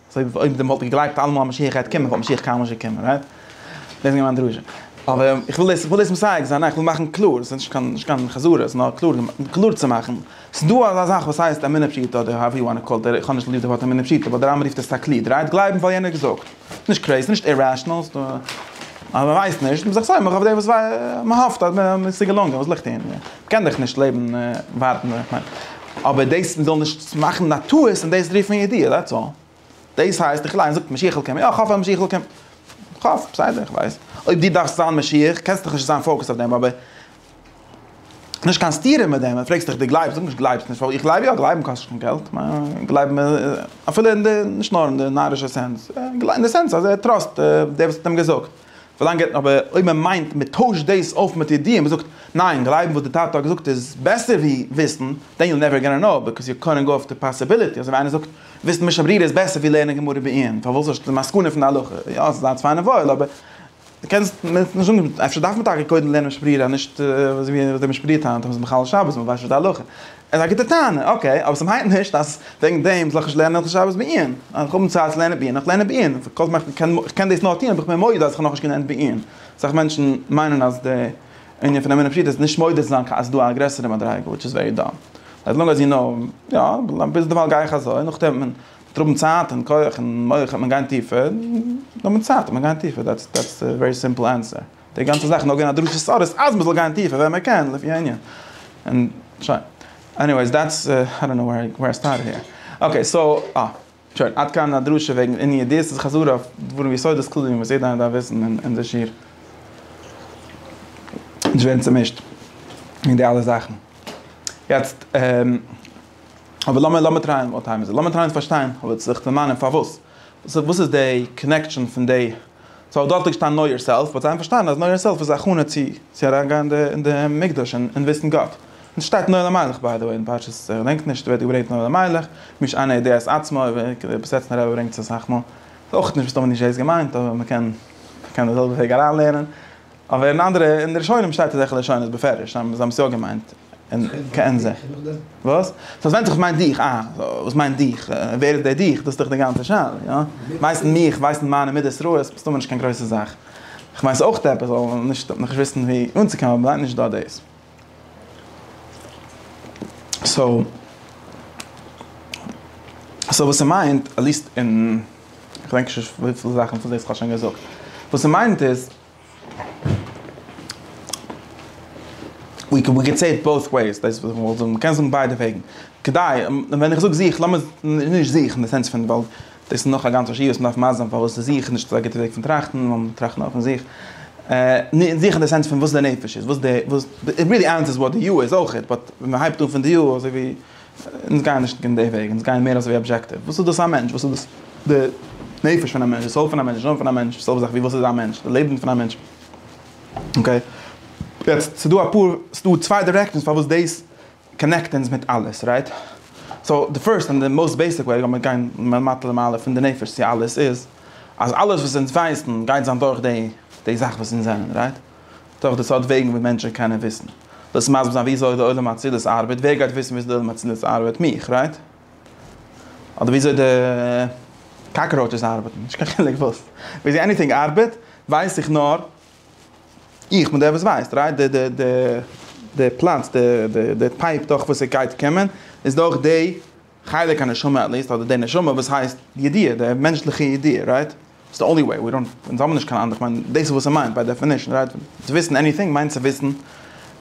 סוי אויב די וואלט געגלייבט אלעמאל אז משיח גייט קומען וואלט משיח קיינמאל נישט געקומען רייט? דאס איז געווען מיין דרשה. אבער איך וויל דאס, איך וויל דאס מסייג זיין, איך וויל מאכן קלאר, ס'איז נישט קיין, נישט קיין חזרות, נאר קלאר, קלאר צו מאכן. ס'איז דא אזא זאך וואס הייסט אמונה פשוטה אדער האועווער יו וואנט טו קאל איט, איך האב נישט ליב די ווארט אמונה פשוטה, ווייל די רמבם רופט עס תקליד, רייט? גלייבן ווייל יענער האט געזאגט. נישט קרעיז, נישט אירעשענעל, ס'איז דא, אז מ'ווייסט נישט, מ'איז זיך סומך אויף דעם וואס ווייסט, מ'האפט אז מ'איז צו געלונגען, וואס ליגט אין. קען דאך נישט לעבן ווארטן איך מיין אבער דאס מ'זאל נישט מאכן א טעות און דאס רופן ידיעה דעטס אלל. דאס הייסט איך ליין זאגט משיח'ל קומען יא כ'האף אז משיח'ל קומט כ'האף בסדר כ'ווייס אויב די דארפסט זיין משיח קענסט דאך נישט זיין פאוקעסט אויף דעם אבער נישט קיין סתירה מיט דעם פרעגסט דיך די גלייבסט זאג נישט גלייבסט נישט ווייל איך גלייב יא גלייבן קאסט נישט קיין געלט גלייבן איז אפילו אין די נישט נאר אין די נארישע סענס אין די סענס אז ער טראסט די וואס האט אים געזאגט. ווילאנג ער האט אבער אויב מען מיינט מען טוישט דאס אויף מיט ידיעה מען זאגט ניין גלייבן וואס די טאטע האט געזאגט איז בעסער ווי וויסן דען יו נעווער גאנא קנאו ביקאוז יו קאנט גאו אויף די פאסיביליטי אזוי ווי איינער זאגט וויסן משא ברירה איז בעסער ווי לערנען גמרא בעיון פארוואס האסטו די מסקנא פון די הלכה יא ס'איז אלץ פיין און וואויל אבער די קענסט מען נישט זאגן אפשר דארף מען טאקע קודם לערנען משא ברירה נישט אזוי ווי די משא ברירה טענה'ט אז מ'איז מחלל שבת מען ווייסט נישט די הלכה עס איז א גוטע טענה, אקעי, אבער ס'מיינט נישט אז וועגן דעם זאל איך נישט לערנען הלכות שבת בעיון. אז איך האב נישט צייט צו לערנען בעיון, איך לערן בעיון. כל זמן איך קען, איך קען דאס נאר טון אויב איך בין מודה אז איך האב נאכנישט געלערנט בעיון. אסאך מענטשן מיינען אז די ענין פון אמונה פשוטה איז נישט מודה צו זיין אז ס'דא א גרעסערע מדריגה, וויטש איז ווערי דאם. עז לאנג עז יו נאו, יא, ביז דערווייל גיי איך אזוי, נאכדעם וועט מען האבן צייט און כח און מח וועט מען גיין טיפער, נאר מיט צייט וועט מען גיין טיפער, דעטס דעטס די ווערי סימפל ענסער. די גאנצע זאך איז נאר געווען א דרשת סארס אז מ'זאל גיין טיפער ווען מ'קען לפי הענין. און שוין. עניוועיס דעטס איי דאנט נאו ווער איי סטארטעד העיר. אקעי סאו אה. שוין עד כאן א דרשה וועגן עניו דיס איז חזרה אויף דברים יסודות כלליים וואס יעדער איינער דארף וויסן און אונזער שיעור נישט ווערן צומישט אין די אלע זאכן. יעצט אבער לאמיר לאמיר טרייען וואט טיים איז איט? לאמיר טרייען צו פארשטיין אבער זיך דערמאנען פארוואס? וואס איז די קאנעקשאן פון די סאו דארט ליגט שטיין נאו יאר סעלף, באט זיי האבן פארשטאנען אז נאו יאר סעלף איז א הכנה צו צו אריין גיין אין די מקדש און וויסן גאט. און עס שטייט נועל המלך ביי די וועי אין פרשת כ'דענק נישט ווערט געברענגט נועל המלך, מי שאינו יודע את עצמו, בסעטמער רבי ברענגט עס אסאך מאל, כ'ווייס אויך נישט וואס טאמער נישט דאס געמיינט אבער מ'קען מ'קען די זעלבע וועג אריינלערנען. אבער אין אנדערע, אין די ראשונים שטייט אזעלכע לשונות בפירוש, זיי האבן עס יא געמיינט, און כעין זה. וואס? סאו ווענדט זיך וואס מיינט דיך, אה, וואס מיינט דיך, ווער איז דער דיך, דאס איז דאך די גאנצע שאלה, יא? ווייסן מיך, ווייסן מיינע מידות רעות, מסתמא נישט קיין גרויסע זאך. כ'מיין ס'איז אויך עפעס, אבער מ'זאל נישט נאכנישט וויסן ווי אנצוקומען, אבער מ'מיינט נישט דא דאס. סאו, סאו וואס ס'מיינט, עטליעסט אין, כ'דענק נישט וויפיל זאכן פון דאס כ'האב שוין געזאגט. וואס ס'מיינט איז. ווי קען ווי קען סעי איט בויס וועיס דאס איז וואס איך וויל זאגן מ'קען זאגן ביידע וועגן כדי ווען איך זאג זיך לאמיר נישט זיך אין די סענס פון ווייל דאס איז נאך א גאנצע שיעור וואס מ'דארף מסביר זיין פארוואס איז זיך נישט אזא גוטע וועג פון טראכטן נאר מ'זאל טראכטן אויפן זיך זיך אין די סענס פון וואס די נפש איז וואס די וואס די רילי איינס איז וואט די יו איז אויכעט באט ווען מ'הייבט אן פון די יו אזוי ווי אונז גייען נישט אין די וועג, אונז גייען מער אזויווי אבזשעקטיוו, וואס איז דאס א מענטש, וואס איז דאס די נפש פון א מענטש, די סאול פון א מענטש, די נשמה פון א מענטש, זעלבע זאך ווי וואס איז א מענטש, די לעבן פון א מענטש. אקעי. יעצט, ס'דא אפאר, ס'דא צוויי דירעקשאנס פארוואס דאס קאנעקט אונז מיט אלעס, רייט? סאו, די פירסט און די מאוסט בעיסיק וועג, לאמיר גיין מלמטה למעלה, פון די נפש צו אלעס, איז אז אלעס וואס אונז ווייסן גייט זיין דורך די זאך וואס אונז זענען, רייט? דורך די סארט וועגן וואס מענטשן קענען וויסן. דאס מסביר זיין וויאזוי די עולם האצילות ארבעט, ווער גייט וויסן וויאזוי די עולם האצילות ארבעט? מיך, רייט? אדער וויאזוי די קאקראוטשעס ארבעטן? נישט קיין חילוק וואס. וויאזוי עניטינג ארבעט ווייס איך נאר איך בין דער וואס ווייסט, רייט? די די די די פלאץ, די די די פייפ דורך וואס עס גייט קומען, איז דורך די חלק הנשמה עט ליעסט, אדער די נשמה וואס הייסט די ידיעה, די מענטשליכע ידיעה, רייט? ס'איז די אנלי וועי, ווי דאנט, אונז האבן נישט קיין אנדערע, כ'מיין דאס איז וואס ס'מיינט ביי דעפינישן, רייט? צו וויסן עניטינג מיינט צו וויסן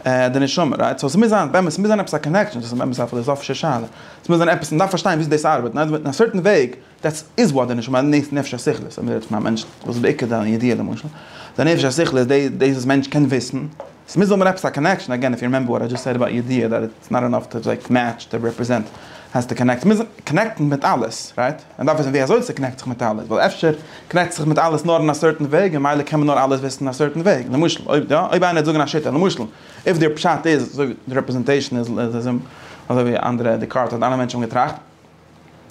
די נשמה, רייט? סאו ס'מוז זיין באמת, ס'מוז זיין עפעס א קאנעקשאן, דאס איז באמת א פילאזאפישע שאלה, ס'מוז זיין עפעס, מ'דארף פארשטיין וויאזוי דאס ארבעט, און אז מ'איז אין א סערטען וועג, דעטס איז וואט די נשמה נעסט נפש השכלית אז מ'רעדט פון א מענטש וואס איז בעיקר דיין ידיעה למשל די נפש השכלית איז די דאס וואס מענטש קען וויסן עס מוז האבן עפעס א קאנעקשאן עגעין איף יו רימעמבער וואט איי דזשאסט סעד אבאוט ידיעה דעט איטס נאט אינאף טו לייק מעטש די רעפרעזענט עס האסטו קאנעקט מוז קאנעקטן מיט אלעס רייט מען דארף וויסן ווי אזוי ס'קאנעקט זיך מיט אלעס ווייל אפשר קאנעקט זיך מיט אלעס נאר אין א סערטען וועג און מילא קען מען נאר אלעס וויסן אין א סערטען וועג למשל אויב יא אויב איינער וועט זאגן א שיטה למשל איף די פשט איז אזוי ווי די רעפרעזענטעישאן איז אזוי ווי אנדערע דעקארט האט אלע מענטשן האבן געטראכט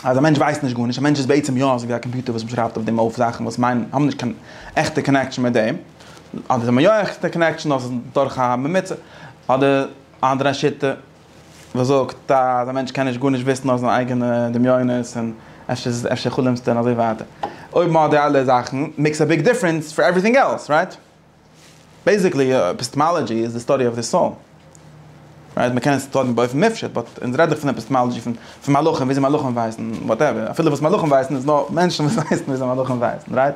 אז א מענטש ווייסט נישט גארנישט, א מענטש איז בעצם יא אזויווי א קאמפיוטער וואס מ'שרייבט אויף דעם אויף זאכן וואס מיינען האבן נישט קיין עכטע קאנעקשאן מיט דעם, אדער זיי האבן יא עכטע קאנעקשאן נאר ס'איז דורך א ממוצע, אדער א אנדערע שיטה וואס זאגט אז א מענטש קען נישט גארנישט וויסן נאר זיינע אייגענע דמיונות און אפשר אפשר חלומ'סטו און אזוי ווייטער. אויב מ'האט די אלע זאכן, מעיקס א ביג דיפרענס פאר עווריטינג עלס, רייט? בעיסיקלי עפיסטעמאלאגיע איז די סטאדי אוו די סאול, רייט? מען קען עס טון באופן מופשט, באט אונז רעדט דאך פון עפיסטעמאלאגיע פון פון מלאכים, וויאזוי מלאכים ווייסן, וואטעווער, אפילו וואס מלאכים ווייסן איז נאר מענטשן וואס ווייסן וויאזוי מלאכים ווייסן, רייט?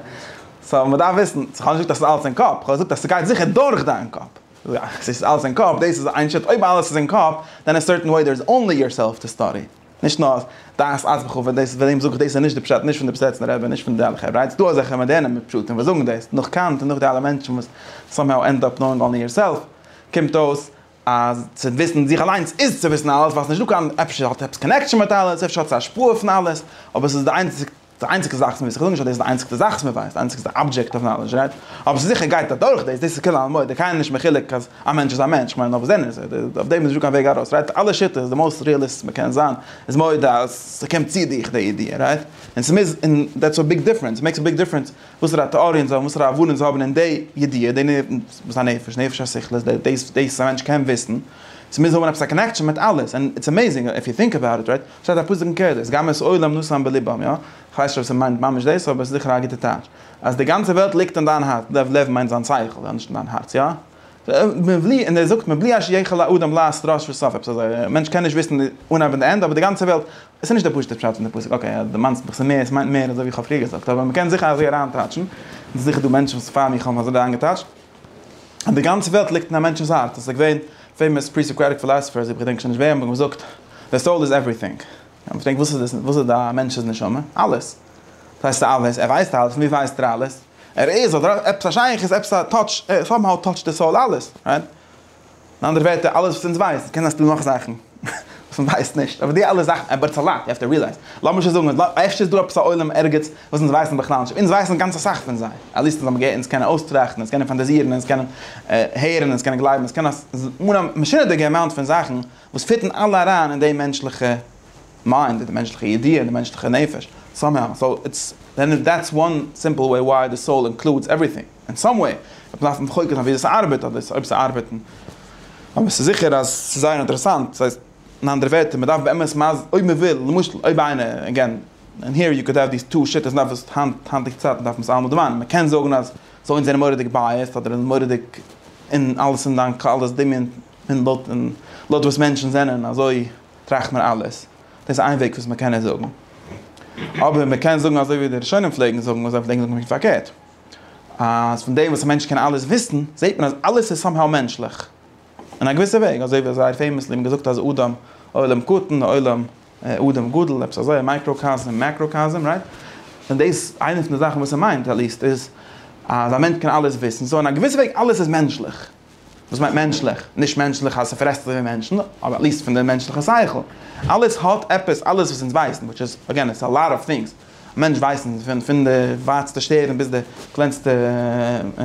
סאו מען דארף וויסן, איך האב נישט געזאגט אז ס'איז אלעס אין קאפ, כ'האב געזאגט אז ס'גייט זיכער דורך דיין קאפ, ס'איז אלעס אין קאפ, דאס איז איין שיטה, אויב אלעס איז אין קאפ, דען אין א סערטען וועי דער איז אנלי יורסעלף טו סטאדי. נישט נאר דעת אז וכו' ווען דאס ווען אים זאג איך דאס איז נישט די פשט נישט פון די פסעצנער רבי נישט פון די אלע חברה איז דא אזעלכע מאדערנע מפשטים וואס זאגן דאס נאך קאנט און נאך די אלע מענטשן וואס סאמהאו ענד אפ נאוינג אנלי יור סעלף קומט אויס אז צו וויסן זיך אליינס איז צו וויסן אלעס ווייסט נישט דוקא אפשר האט עפעס קאנעקשאן מיט אלעס אפשר האט עס השפעה פון אלעס אבער עס איז די איינציג די איינציגסטע זאך וואס מ'וויסט, איך זאג נישט אז דאס איז די איינציגסטע זאך וואס מ'ווייסט, די איינציגסטע אבדזשעקט אוו נאלעדזש, רייט? אבער ס'איז זיכער גייט אדורך דאס, דאס איז כולא עלמא, דער קאי נישט מחולק אז א מענטש איז א מענטש, כ'מיין נאר וואס זענען זיי, אויף דעם איז נישטא קיין וועג ארויס, רייט? אלע שיטות, די מאוסט ריעליסט וואס מ'קען זיין, איז מודה אז ס'קומט צו דיך די ידיעה, רייט? און ס'מוז, און דעטס א ביג דיפרענס, ס'מעיקס א ביג דיפרענס וואסערע טעאריע אונז האבן, וואסערע הבנה אונז האבן אין די ידיעה, די וואס א נפש, נפש השכלית, די דאס וואס א מענטש קען וויסן, ס'מוז האבן עפעס א קאנעקשאן מיט אלעס, און איטס עמעיזינג איף יו טינק אבאוט איט, רייט? שטייט א פסוק אין קהלת, גם את עולם נשאם בלבם, יא? כ'ווייס נישט אויב ס'מיינט ממש דאס, אבער ס'זיכער א גוטע טייטש. אז די גאנצע וועלט ליגט אין דיין הארץ, לב, לב מיינט זיין שכל, יא? נישט אין דיין הארץ, יא? מבלי, און ער זאגט מבלי אש יכל האדם לעת ראש וסוף, עפעס אזוי, א מענטש קען נישט וויסן די אנהייב און די ענדע, אבער די גאנצע וועלט, עס איז נישט דער פשוט'ער פשט פון די פסוק, אקעי, אז דו מיינסט מיך, ס'מער, ס'מיינט מער, אזוי ווי כ'האב פריער געזאגט, אבער מ'קען זיכער אזוי אריינטייטשן, און ס'איז זיכער דא מענטשן וואס פאר מיר האבן אזוי אריינגעטייטשט, און די גאנצע וועלט ליגט אין א מענטשנ'ס הארץ, עס איז געווען פעימאס פרי-סאקראטיק פילאסעפערס, איך געדענק שוין נישט וועם, האבן געזאגט, די סאול איז עווריטינג. איך האב געפרעגט, וואס איז וואס איז א מענטש'ס נשמה? אלעס. וואס הייסט אלעס? ער ווייסט אלעס, פון וואו ווייסט ער אלעס? ער איז, אדער עפעס א שייכות, עפעס א טאטש, סאמהאו טאטשט די סאול אלעס, רייט? אין אנדערע ווערטער, אלעס וואס אונז ווייסן, קען זיין ס'דא נאך זאכן וואס מ'ווייסט נישט, אבער די אלע זאכן, אבער איטס א לאט, יו העוו טו רילייז, לאמיר שוין זאגן, אפשר איז דא עפעס א עולם ערגעץ וואס אונז ווייסן בכלל נישט, אונז ווייסן גאנץ אסאך פון זיי, עטליעסט אונז האבן געהערט, אונז קענען אויסטראכטן, אונז קענען פאנטאזירן, אונז קענען הערן, אונז קענען גלייבן, אונז קענען אן א משונה'דיגע אמאונט פון זאכן וואס פיטן אלע אריין אין די מענטשליכע מיינד, אין די מענטשליכע ידיעה, אין די מענטשליכע נפש, סאמהאו, סאו, איטס, דעטס וואן סימפל וועי וויי די סאול אינקלודס עווריטינג. אין סאם וועי, וועט מען דארפן חוקר זיין וויאזוי עס ארבעט אדער אויב עס ארבעט, אבער עס איז זיכער אז עס איז זייער אינטערעסאנט, ס'הייסט אין אנדערע ווערטער, מען דארף באמת מ ז, אויב מען וויל, למשל, אויב איינער, עגעין, און היער יו קאוד העוו דיס טו שיטות, נאר וואס היינט, היינטיגע צייטן דארף מען עס אלעמאל דערמאנען, מען קען זאגן אז זיי זענען מורא'דיג בייעסד אדער זענען מורא'דיג אין אלעס אין דיין קאל דאס דמיון און לויט און לויט וואס מענטשן זענען אזוי טראכט מען אלעס, דאס איז איין וועג וואס מען קען עס זאגן, אבער מען קען זאגן אזוי ווי די ראשונים פלעגן זאגן, און זיי פלעגן זאגן פונקט פארקערט. אז פון דעם וואס א מענטש קען אלעס וויסן, זעט מען אז אלעס איז סאמהאו מענטשליך. אין א געוויסע וועג, אזוי ווי זייער פעימעסלי האט מען געזאגט אז אדם עולם קטן ועולם אדם גדול, עפעס אזוי, מייקראקאזם, מעקראקאזם, רייט? און דאס, איינע פון די זאכן וואס ער מיינט, עטליסט, איז אז א מענטש קען אלעס וויסן. סאו אין א געוויסע וועג, אלעס איז מענטשליך. וואס מיינט מענטשליך? נישט מענטשליך אז ס'פרעסט אזוי ווי מענטשן, אבער עט ליעסט פון די מענטשליכע שכל. אלעס האט עפעס, אלעס וואס אונז ווייסן, וויטש איז אגעין איטס א לאט אוו טינגס, א מענטש ווייסן פון פון די ווייטסטע שטערן ביז די קלענסטע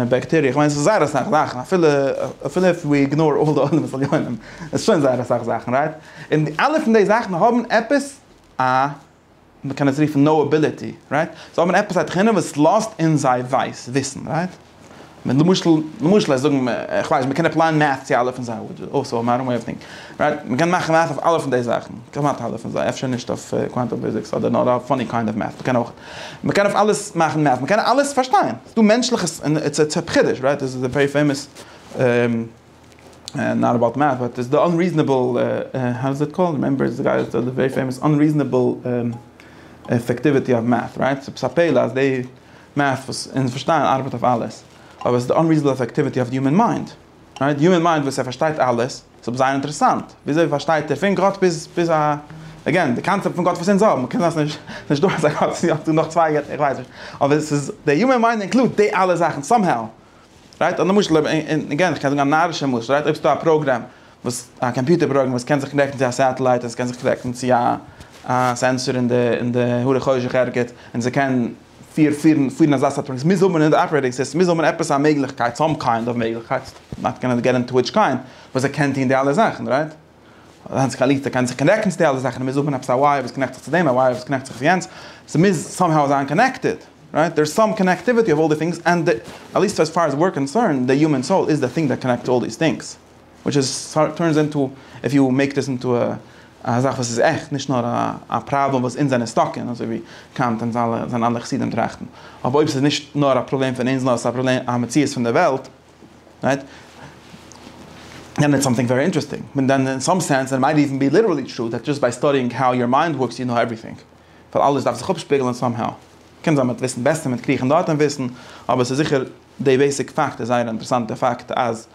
בעקטעריע, כ'מיין ס'איז זייער אסאך זאכן, אפילו אפילו איף ווי איגנאר אלל די עולמות עליונים, איז שוין זייער אסאך זאכן, רייט? און אלע פון די זאכן האבן עפעס א מען קען עס רופן נאובילעטי, רייט? זיי האבן עפעס א תכונה וואס לאזט אונז זיי ווייס וויסן, רייט? מען למשל, למשל זיי זאגן, איך ווייס נישט, מען קען עפלייען מעטס צו אלע פון זיי, אויסער אויף מאדערן וועי אוו טינקינג, רייט? מען קען מאכן מעטס אויף אלע פון די זאכן, כמעט אלע פון זיי, אפשר נישט אויף קוואנטום פיזיקס אדער נאר אויף עני קיינד אוו מעטס, מען קען אויך, מען קען אויף אלעס מאכן מעטס, מען קען אלעס פארשטיין, ס'איז דא מענטשליכע, און איטס א חידוש, רייט? דאס איז א ווערי פעימאס נאט אבאוט מעט באט איז די אנריזענעבל האו איז איט קאלד רעמעמבער איז די גייער די ווערי פעימאס אנריזענעבל אפעקטיוויטי אוו מעט רייט ס'איז עפעס א פלא אז די מעט וואס אונז פארשטייען ארבעט אויף אלעס אבער ס'איז די אנריזענעבל אפעקטיוויטי אוו די יומען מיינד רייט די יומען מיינד וואס ער פארשטייט אלעס ס'איז אבער זייער אינטערעסאנט וויאזוי פארשטייט ער פון גאט ביז ביז א אגעין די קאנצעפט פון גאט וואס אונז האבן קען זיין ס'נישט דא אזא גאט ס'איז יא דא נאך צוויי געטער איך ווייס נישט אבער ס'איז די יומען מיינד אינקלוד די אלע זאכן סאם האו. רייט א למשל אויב אין אגעין איך קען זאגן א נארישע משל רייט אויב ס'דא א פראגרעם וואס א קאמפיוטער פראגרעם וואס קען זיך קנעקטן צו א סעטעלייט און ס'קען זיך קנעקטן צו א א סענסאר אין די אין די הרי חושך ערגעץ און זיי קען פיר פירן פירן אזא סארט פראגרעם ס'מוז האבן אין די אפערעיטינג סיסטעם מוז האבן עפעס א מעגליכקייט סאם קיינד אוו מעגליכקייט נאט גאנע געט אינטו וויטש קיינד וואס ער קען טון די אלע זאכן רייט. זיינס קאלירטע קען זיך קאנעקטן צו די אלע זאכן, מ'מוז האבן עפעס א ווייער וואס קאנעקט זיך צו דעם, א ווייער וואס קאנעקט זיך צו יענץ, ס'מוז סאמהאו זיין קאנעקטעד, רייט? דער איז סאם קאנעקטיוויטי אוו אלל די טינגס, ענד די, עטליסט עז פאר עז וויר קאנסערנד, די יומען סאול איז די טינג דעט קאנעקטס אלל דיס טינגס, וויטש איז סארט טורנס אינטו, איף יו מעיק דיס אינטו א א זאך וואס איז עכט, נישט נאר א פראבלעם וואס אונז זענען סטאק אין, אזוי ווי קאנט און זיינע אנדערע חסידים טראכטן. אבער אויב ס'איז נישט נאר א פראבלעם פון אונז נאר ס'איז א פראבלעם, א מציאות פון די וועלט, רייט? און איטס סאמטינג ווערי אינטערעסטינג, מען דן אין סאם סענס און מייט איווען בי ליטערלי טרו דעט דזשאסט ביי סטאדיאינג האו יור מיינד ווארקס יו נאו עווריטינג, ווייל אלעס דארף זיך אפשפיגלען סאם האו. קען זיין מען וועט וויסן בעסער מיט קריכן דארט און וויסן, אבער ס'איז זיכער די בעיסיק פאקט איז זייער אינטערעסאנט די פאקט אז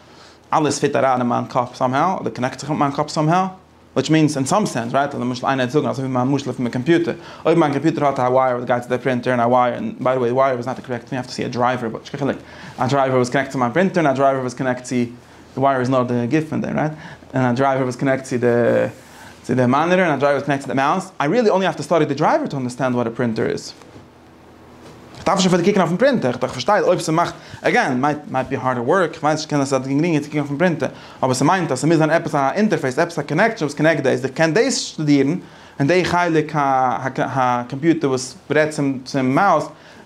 אלעס פיט אריין אין מיין קאפ סאם האו, אדער קאנעקט זיך מיט מיין קאפ סאם האו. וויטש מיענס אין סאם סענס רייט למשל איינער וועט זאגן אזוי ווי מיין משל פון די קאמפיוטער אויב מיין קאמפיוטער האט א ווייער וואס גייט צו די פרינטער און א ווייער און ביי די וועי ווייער איז נאט א קארעקט טינג יו האוו טו סי א דרייווער וויטש קען חילוק א דרייווער וואס קאנעקט צו מיין פרינטער און א דרייווער וואס קאנעקט צו די ווייער איז נאר די גוף פון דעם רייט און א דרייווער וואס קאנעקט צו די צו די מאניטער און א דרייווער וואס קאנעקט צו די מאוס איי ריעלי אנלי האוו טו סטאדי די דרייווער טו אנדערסטענד וואט א פרינטער איז. איך דארף נישט אפילו קוקן אויפן פרינטער, איך פארשטיי אויב ס'מאכט, עגעין, מייט בי הארדער ווארק, איך ווייס נישט, קען זיין ס'איז גרינגער צו קוקן אויפן פרינטער, אבער ס'מיינט אז ס'מוז זיין עפעס א אינטערפעיס, עפעס א קאנעקשאן וואס קאנעקט דאס, איך קען דאס שטודירן, און די חלק הקאמפיוטער וואס רעדט צום מאוס,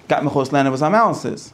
גייט מיך אויסלערנען וואס א מאוס איז.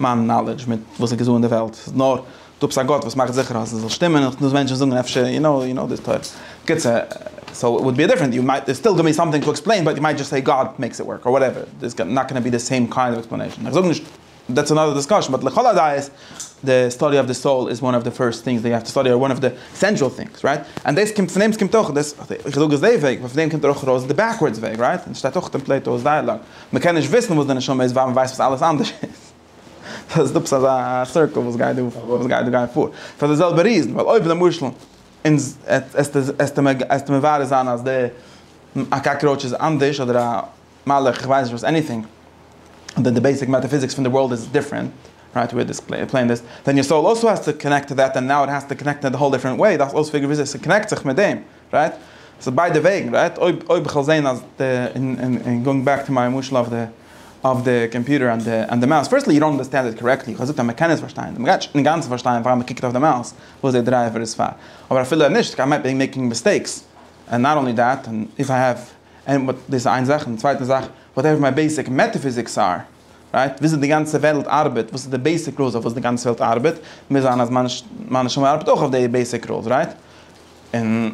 מיין נאלעדזש מיט וואס איז געזאגט אין די וועלט איז נאר דו האבסט א גאט וואס מאכט זיכער אז עס זאל שטימען און וואס מענטשן זאגן אפשר יו נאו יו נאו דיס טויט קיצור סאו איט וואלד בי דיפרענט יו מייט סטיל גיוו מי סאמטינג טו עקספלעין באט יו מייט דזשאסט סעי גאד מעיקס איט ווארק אר וואטעווער דער איז נאט גאנא בי די סעים קיינד אוו עקספלענעישן איך זאג נישט דעטס אנאדער דיסקאשן באט לכל הדעות די סטאדי אוו די סאול איז וואן אוו די פירסט טינגס דעט יו האוו טו סטאדי אר וואן אוו די עסענשאל טינגס רייט און דאס קומט פון דעם ס'קומט אויך דאס איך זאג עס די וועג ווייל פון דעם קומט ער אויך ארויס די בעקווארדס וועג רייט און ס'שטייט אויך אין פלעיטאו'ס דייעלאג. מען קען נישט וויסן וואס די נשמה איז ווייל מען ווייסט וואס אלעס אנדערש איז. סא איז דא עפעס א סירקעל וואס גייט דא וואס גייט דא גייט פאר. פאר די זעלבע ריזן ווייל אויב למשל אונז עסטו מברר זיין אז די א קאקראוטש איז אנדערש אדער א מלאך איך ווייס נישט וואס עניטינג אדער די בעיסיק מעטאפיזיקס פון די ווארלד איז דיפרענט רייט וועיר דיס פלענעט איז ווען יור סאול אלסא העז טו קאנעקט טו דעט און נאו איט העז טו קאנעקט און א האול דיפרענט וועי דארפסט אויספיגערן וויאזוי ס'קאנעקט זיך מיט דעם. רייט? ס'איז ביידע וועגן, רייט? אויב אויב כ'וועל זעהן אז די, און און און גאוינג בעק טו מיי משל אויף די אויף די קאמפיוטער און די און די מאוס, פירסטלי יו דאנט אנדערסטענד איט קארעקטלי, איך האב געזאגט אז מ'קען עס פארשטיין, מ'גייט נישט אינגאנצן פארשטיין פאר מ'קוקט אויף די מאוס וואס די דרייווער איז פאר, אבער אפילו אויב נישט, כמיי בי מעקינג מיסטעיקס, און נאט אנלי דעט, און איף איי העוו, און דאס איז איין זאך, און די צווייטע זאך, וואטעווער מיי בעיסיק מעטעפיזיקס אר. רייט? וויאזוי די גאנצע וועלט ארבעט, וואס איז די בעיסיק רולס אויף וואס די גאנצע וועלט ארבעט, מוז זיין אז מיין נשמה ארבעט אויך אויף די בעיסיק רולס, רייט? און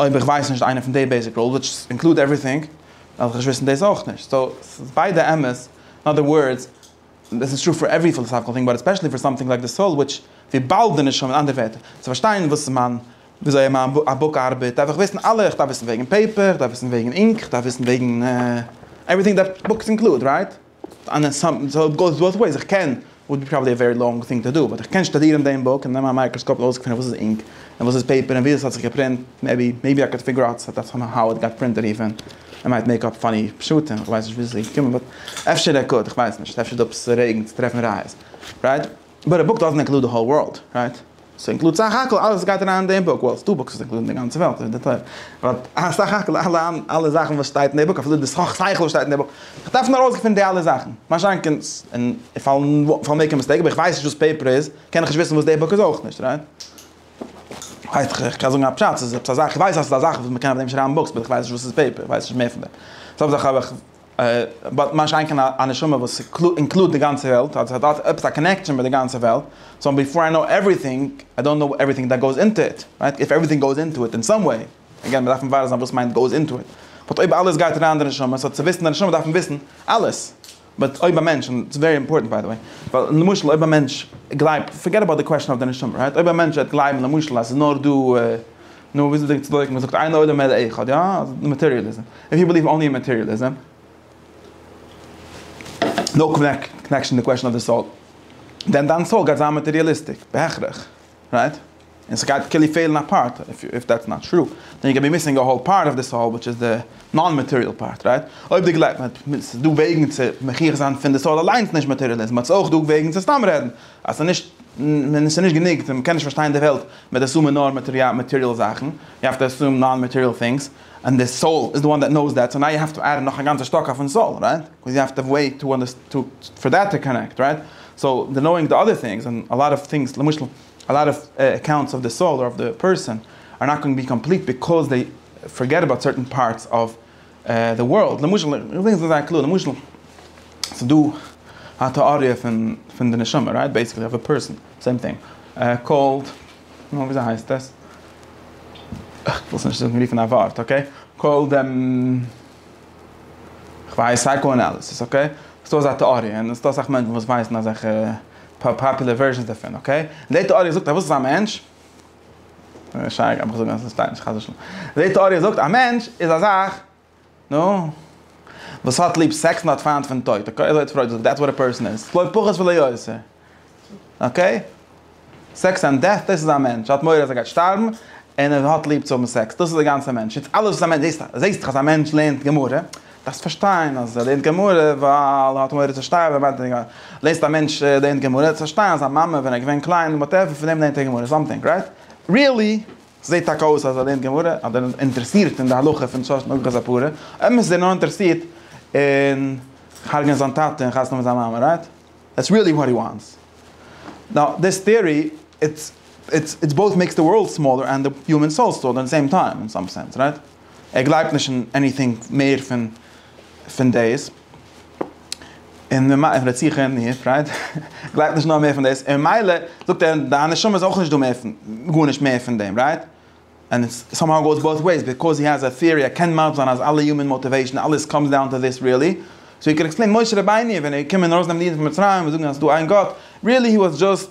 אויב איך ווייס נישט איינע פון די בעיסיק רולס, וויטש אינקלוד עווריטינג, דארף איך נישט וויסן דאס אויך נישט. סאו, ס'איז ביידע אמת, אין אדער ווארדס, דאס איז טרו פאר עוורי פילאסאפיקעל טינג, באט עספעשעלי פאר סאמטינג לייק די סאול, וויטש, וויבאלד די נשמה, אין אנדערע ווערטער, צו פארשטיין וואס איז מיין וויאזוי א מיין א בוק ארבעט דארף איך וויסן אלע, איך דארף וויסן וועגן פעיפער, איך דארף וויסן וועגן אינק, איך דארף וויסן וועגן עווריטינג דעט בוקס אינקלוד, רייט? אנלעס סאמטינג סאו איט גאוס באות וועיס, איך קען, וואלט בי פראבעבלי א ווערי לאנג טינג טו דא, באט איך קען שטודירן דעם בוק און נעמען א מייקראסקאפ און אויסגעפינען וואס איז אינק און וואס איז פעיפער און ווי עס האט זיך געפרינט, מעיבי מעיבי איי קען פיגור אוט סאט דעטס האו איט גאט פרינטעד איווען איי מייט מעיק אפ פאני פשטים, איך ווייס נישט ווי עס איז געקומען באט אפשר ער קוד, איך ווייס נישט, אפשר איז דא עפעס רעגן צו טרעפן ראיות, רייט? באט א בוק דאזענט אינקלוד די האול ווארלד, רייט? ס'אינקלוד סך הכל אלעס וואס גייט אריין אין די בוק, וואלסט דא בוקס וואס אינקלודן די גאנצע וועלט און די תורה, באט א סך הכל אלע אלע זאכן וואס שטייט אין די בוק אפילו די סך שכל וואס שטייט אין די בוק, איך דארף נאר ארויסגעפינען די אלע זאכן, משאכ קען איך פאלן מעיק א מיסטעיק אבער איך ווייס נישט וואס פעיפער איז, קען איך נישט וויסן וואס די בוק איז אויך נישט, רייט? הייסט איך קען זאגן א פשט, ס'איז עפעס א זאך, איך ווייס אז ס'איז א זאך וואס מ'קען אויף דעם שרייבן בוקס, באט איך ווייס נישט וואס איז פעיפער, איך ווייס נישט מער פון דעם. באט מה שאין כן א נשמה וואס אינקלוד די גאנצע וועלט, אז עס האט עפעס א קאנעקשאן מיט די גאנצע וועלט, סאו ביפאר איי נאו עווריטינג, איי דאנט נאו עווריטינג דעט גאוס אינטא איט, רייט? איף עווריטינג גאוס אינטא איט אין סאם וועי, אגעין מ'דארף מברר זיין וואס מיינט גאוס אינטא איט, באט אויב אלעס גייט אריין אין די נשמה, סאו צו וויסן די נשמה דארף מען וויסן אלעס, באט אויב א מענטש, און ס'איז ווערי אימפארטענט ביי די וועי, ווייל למשל אויב א מענטש גלייבט, פארגעט אבאוט די קוועשאן אויף די נשמה, רייט? אויב א מענטש וועט גלייבן למשל אז ס'איז נאר דא. נו וואס איז די צדקה? מען זאגט אין עולם אלא אחד, יא? אז מאטעריעליזם. איף יו בעליוו אנלי אין מאטעריעליזם. נאו קאנעקשאן די קוועשאן אויף די סאול. דען דיין סאול גייט זיין מאטעריעליסטיק. בהכרח. רייט? און ס'גייט כאילו פעלן א פארט. איף דעטס נאט טרו. דען יו קען בי מיסינג א האול פארט אויף די סאול וויטש איז די נאן מאטעריעל פארט. רייט? אויב די גלייבסט אז ס'איז דא וועגן צו מוכיח זיין פון די סאול אליינס נישט מאטעריעליזם. אט ס'איז אויך דא וועגן צו סתם רעדן. אז ס'איז נישט, און ס'איז נישט גענוג, און מ'קען נישט פארשטיין די וועלט מיט אסומען נאר מאטעריאל זאכן, יו העוו טו אסום נאן מאטעריאל טינגס, און די סאול איז די וואן דעט נאוס דעט, סאו נאו יו העוו טו עד נאך א גאנצע שטאק אויפן סאול, רייט? קאוז יו העוו טו וועיט טו אנדערסטענד פאר דעט טו קאנעקט, רייט? סאו די נאוינג די אדער טינגס, און א לאט אוו טינגס, למשל א לאט אוו אקאונטס אוו די סאול אדער אוו די פערסאן, אר נאט גאוינג בי קאמפליט ביקאוז דעי פארגעט אבאוט סערטען פארטס אוו. די ווארלד, למשל, איך וויל זיך זייער קלאר, למשל, ס'איז דא א טעאריע פון פון די נשמה, רייט? בעיסיקלי אויף א פערסאן, סעים טינג, קאלד, נו, וויאזוי הייסט עס? איך וויל עס נישט זאגן רופן א ווארט, אקעי? קאלד דעם, כ'ווייס, סייקא-אנאליסיס, אקעי? ס'דא אזא טעאריע, און ס'דא אסאך מענטשן וואס ווייסן אזעלכע פאפולער ווערזשענס דערפון, אקעי? און די טעאריע זאגט אז וואס איז א מענטש? שייגעץ האב איך געזאגט אז עס שטייט נישט חס ושלום. די טעאריע זאגט א מענטש איז א זאך נו וואס האט ליב סעקס און האט פיינט פון טויט אקעי אזוי האט פרויד געזאגט דעטס וואט א פערסאן איז לא פחות ולא יותר אקעי סעקס און דעט דאס איז א מענטש ער האט מורא אז ער גייט שטארבן און ער האט ליב צו האבן סעקס דאס איז די גאנצע מענטש איז אלעס וואס א מענטש זעסט זעסט אז א מענטש לערנט גמרא. דארפסט פארשטיין אז ער לערנט גמרא ווייל ער האט מורא צו שטארבען ווען ער לערנט א מענטש לערנט גמרא דארפסט פארשטיין אז זיין מאמע ווען ער איז געווען קליין האט ער פון דעם לערנט ער גמרא סאמטינג רייט ריעלי זעהט טאקע אויס אז ער לערנט גמרא אדער איז אינטערעסירט אין די הלכה פון שש נגלה זפרה אמת איז ער נאר אינטערעסירט אין הרג'נען זיין טאטע און חתונה מיט זיין מאמע רייט דעטס ריעלי וואט הי וואנטס נאו דיס טעארי איטס איטס איטס בויט מעיקס די ווארלד סמאלער ענד די הומען סאול סאו אט די סעים טיים אין סאם סענס רייט. ער גלייבט נישט אין עניטינג מער פון פון דאס, און די מ א רציחה אין די פרייד גלייבט נישט נאר מער פון דאס, און מילא זאגט ער דיין נשמה איז אויך נישט דא מער פון גארנישט מער פון דעם רייט? ענד איטס סאמהאו גאוס בויט וועיס ביקאוז הי העז א טיארי ער קען מסביר זיין אז אלע יומען מאטיוועישן אלעס קאמס דאון טו דיס ריעלי סאו ער קען עקספלעין משה רבינו ווען ער איז געקומען ארויסנעמען די אידן פון מצרים און זאגן אז ס'איז דא איין גאט ריעלי הי וואס דזשאסט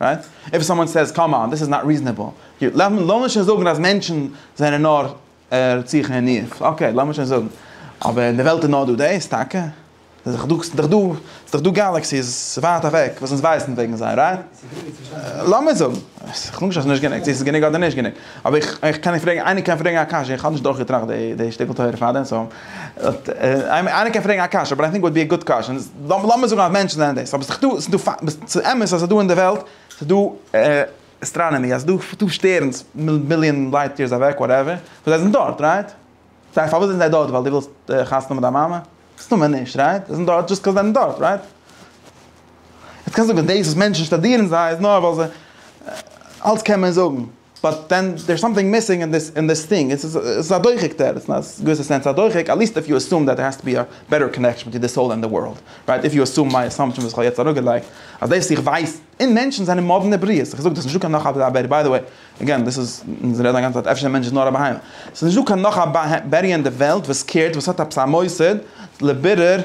רייט? איף סאמאן סעיז קאם אן דיס איז נאט ריזענעבל, ג-ט לאמיר לאמיר שוין זאגן אז מענטשן זענען נאר רציחה און ניאוף, אקעי לאמיר שוין זאגן, אבער אין די וועלט איז נאר דא דאס טאקע? ס'איז דאך דא ס'איז דאך דא גאלעקסיס ווייט אוועק וואס אונז ווייסן וועגן זיי, רייט? לאמיר זאגן, כ'זאג נישט אז ס'נישט גענוג, צו ס'איז גענוג אדער נישט גענוג, אבער איך איך קען נישט פרעגן, איינער קען פרעגן א קשיא, איך האב נישט דורכגעטראכט די שטיקל תורה פארדעם סאו. איינער קען פרעגן א קשיא, באט איי טינק איט וואלט בי א גוד קוועשאן, לאמיר זאגן אז מענטשן זענען דאס, אבער ס'איז דאך דא, ס'איז אמת אז ס'איז דא אין די וועלט, ס'איז דא אסטראנאמי, אז ס'איז דא שטערנס מיליאן לייט יערס אוועק, וואטעווער, און זיי זענען דארט, רייט? סא פארוואס זענען זיי דארט? ווייל דו ווילסט חתונה מיט דיין מאמע? מסתמא נישט, רייט? זיי זענען דארט דזשאסט קאוז זיי זענען דארט, רייט? יעצט קענסטו זאגן דאס וואס מענטשן שטאדירן זיי איז נאר ווייל זיי, אלץ קען מען זאגן. באט דען דער איז סאמטינג מיסינג אין דיס אין דיס טינג, עס איז א דוחק דער, אין א געוויסע סענס א דוחק, עט ליסט איף יו עסום דעט דער האסט טו בי א בעטער קאנעקשאן ביטווין די סאול און די ווארלד, רייט, איף יו עסום מיי עסאמפשאן וואס איך האב יעצט אראפגעלייגט, אז דאס איך ווייס אין מענטשן זענען מאדנע בריות, איך זאג דאס נישט דא קיין נאך א בערי, ביי די וועי, עגעין דאס איז, אונז רעדן א גאנצע צייט אפשר דער מענטש איז נאר א בהמה, עס איז נישט דא קיין נאך א בערי אין די וועלט וואס קערט וואס האט עפעס א מוסד לבירור.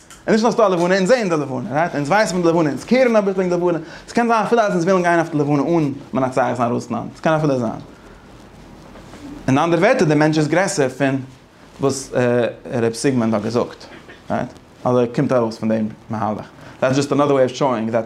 און נישט נאר ס'דא א לבנה, אונז זעען די לבנה, רייט? אונז ווייסן פון די לבנה, אונז קערן אביסל וועגן די לבנה, ס'קען זיין אפילו אז אונז ווילן גיין אויף די לבנה אן מנצח זיין רוסלאנד, ס'קען אפילו זיין. אין אנדערע ווערטער, דער מענטש איז גרעסער פון וואס ר' סיגמונד האט געזאגט, רייט? אדער קומט ארויס פון דעם מהלך. דעטס דזשאסט אנאדער וועי אוו שאואינג דעט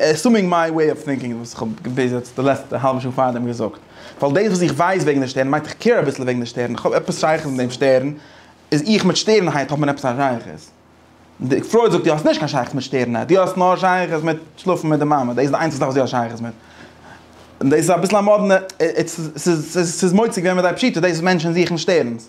עסומינג מיי וועי אוו טינקינג וואס איך האב ביז יעצט די לעצטע האלבע שעה פארדעם געזאגט, ווייל דאס וואס איך ווייס וועגן די שטערן מיינט איך קעיר אביסל וועגן די שטערן, איך האב עפעס שייכות מיט דעם שטערן, איז איך מיט שטערנהייט האט מען עפעס א שייכות. די פרויד זאגט דו האסט נישט קיין שייכות מיט שטערנהייט, דו האסט נאר שייכות מיט שלאפן מיט די מאמע, דאס איז די איינציגסטע זאך וואס דו האסט שייכות מיט. און דאס איז אביסל א מאדנע, ס'איז מוצק ווען מ'דייט פשיטא, דאס איז מענטשן זוכן שטערנס.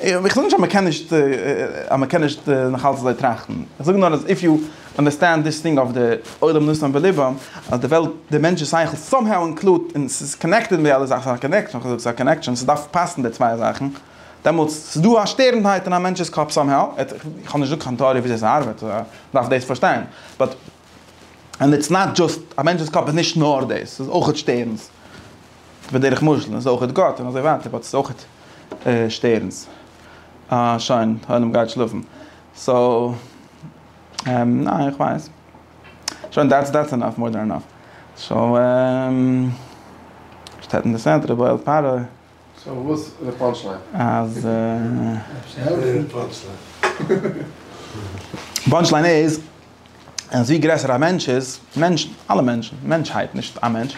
איך זאג נישט אז מען קען נישט אז מען קען נישט נאכאלץ אזוי טראכטן, איך זאג נאר אז איף יו אנדערסטענד דיס טינג אויף די עולם נשם בלבם אז די וועלט די מענטשן שכל סאם האו אינקלוד און ס'איז קאנעקטעד מיט די אלע זאכן, ס'איז א קאנעקשאן, ס'דארף פאסן די צוויי זאכן, דעמאלטס ס'איז דא א שטערנדהייט אין א מענטש'ס קאפ סאם האו, איך האב נישט געזאגט קיין טעאריע וויאזוי ס'ארבעט, דארף דאס פארשטיין, באט. און איטס נאט דזשאסט, א מענטש'ס קאפ איז נישט נאר דאס, ס'איז אויכעט שטערנס, בדרך משל, און ס'איז אויכעט גאט און אזוי ווייטער, באט ס'איז אויכעט שטערנס. אה, שוין, העולם גייט שלאפן. סאו, ניין, איך ווייס. שוין, דעטס דעטס ענאף, מאר דען ענאף. סאו, שטעטנדע סענטער, בויעלט פארע. סאו וואס איז די פאנטש ליין? אז פאנטש ליין איז אז ווי גרעסער א מענטש איז, מענטשן, אלע מענטשן, מענטשהייט, נישט א מענטש,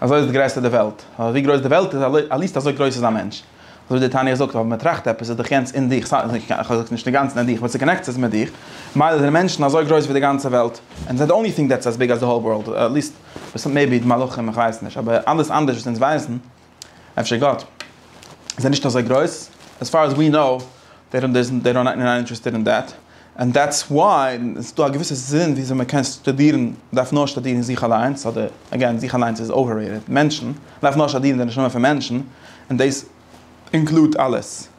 אזוי איז גרעסער די וועלט. ווייל ווי גרויס די וועלט איז, עט ליסט אזוי גרויס איז א מענטש. אזוי ווי די תניא זאגט, אויב מ'טראכט עפעס איז דאך יענץ אין דיך, ס ה איך זאג נישט אינגאנצן אין דיך, באט ס'קאנעקט זיך מיט דיך. ממילא זענען מענטשן אזוי גרויס ווי די גאנצע וועלט. ענד זיי די אנלי טינג דעטס עז ביג עז די האול ווארלד. עט ליסט, מעיבי די מלאכים, איך ווייס נישט. אבער אלעס אנדערש וואס אונז ווייסן. אפשר גאט זיי נישט אזוי גרויס? עס פאר עז ווי נאו דעי דאנט דעזנט דעי דאנט נאט אינטערעסטעד אין דעט ענד דעטס וואי עס איז דא א געוויסע זין וויאזוי מען קען שטודירן מען דארף נאר שטודירן אין זיך אליינס אדער עגעין זיך אליינס איז אוועררעיטעד מענטשן מען דארף נאר שטודירן די נשמה פון מענטשן און דעיס אינקלוד אלעס.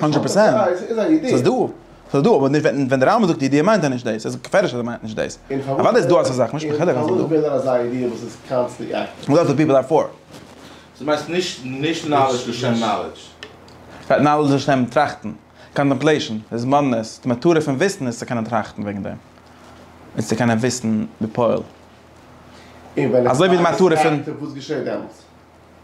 הונדרעט פראצענט, ס'איז דא, ס'איז דא, אבער ווען די רמב ם זאגט ידיעה מיינט ער נישט דאס, ס'איז געפערליך אז ער מיינט נישט דאס, אוודאי איז דא אזא זאך, נישט בחדר אז ס'איז דא. דו מיינסט נישט נאלעדזש לשם נאלעדזש? נאלעדזש לשם טראכטן, קאנטעמפלעישן, איז מאדנעס, די מטרה פון וויסן איז צו קענען טראכטן וועגן דעם, איז צו קענען וויסן בפועל, אזוי ווי די מטרה פון.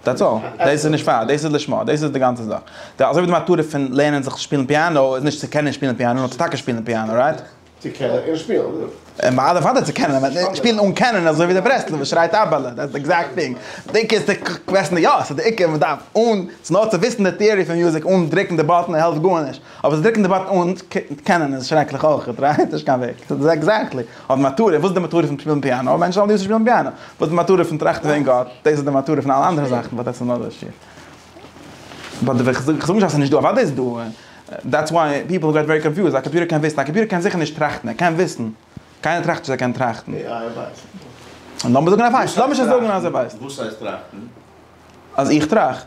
דעטס אלל, דאס איז נישט פאר, דאס איז לשמה, דאס איז די גאנצע זאך. די אזוי ווי די מטרה פון לערנען זיך שפילן פיאנא איז נישט צו קענען שפילן פיאנא, נאר צו טאקע שפילן פיאנא, רייט? צו קענען און שפילן, יא. און אוודאי צו קענען, אבער שפילן אן קענען אזוי ווי דער ברסלב'ער שרייט אבעלע, דעטס די עקזעקט טינג. די עיקר איז צו קוועסטן, יא, ס'איז די עיקר, מ'דארף אן, ס'נאר צו וויסן די טעארי פון מוזיק אן דרוקן די באטן העלפט גארנישט. אבער זיי דרוקן די באטן אן קענען איז שרעקליך אויכעט, רייט? נישט קיין וועג. עקזעקטלי. אבער מטרה, וואס איז די מטרה פון שפילן פיאנא? מענטשן זאלן ליעבסט שפילן פיאנא. וואס איז די מטרה פון טראכטן וועגן גאט? דאס איז די מטרה פון אלע אנדערע זאכן, באט דעטס אנאדער שיעור. ביי די וועי, כ'זאג נישט אז ס'איז נישטא, אוודאי איז דא. דעטס וואי פיפל געט ווערי קאנפיוזד. א קאמפיוטער קען וויסן? א קאמפיוטער קען זיכער נישט טראכטן. ער קען וויסן. קיינער טראכט נישט אז ער קען טראכטן. עי איי ווייסט. לאמיר זאגן ער ווייסט. לאמיר שוין זאגן אז ער ווייסט. וואס הייסט טראכטן? אז איך טראכט.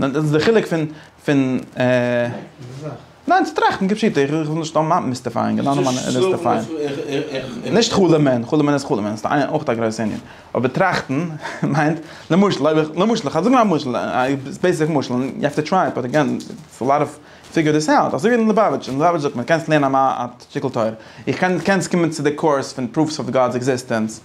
ניין דאס איז די חילוק פון פון ניין צו טראכטן כפשוטו איך וויל נישט סתם מיסטיפייען גענוי נאר מיסטיפייען נישט חלומ'ען חלומ'ען איז חלומ'ען ס'איז אויך א גרויסע ענין אבער טראכטן מיינט למשל אויב איך למשל איך זאג נאר א משל בעיסיק משל יו העוו טו טריי באט עגעין ס'איז א לאט אוו פיגור דיס אוט אזוי ווי אין ליובאוויטש אין ליובאוויטש זאגט מען קענסט לערנען א שטיקל תורה איך קען קענסט קומען צו די קורס פון פרופס אוו גאד'ס עקזיסטענס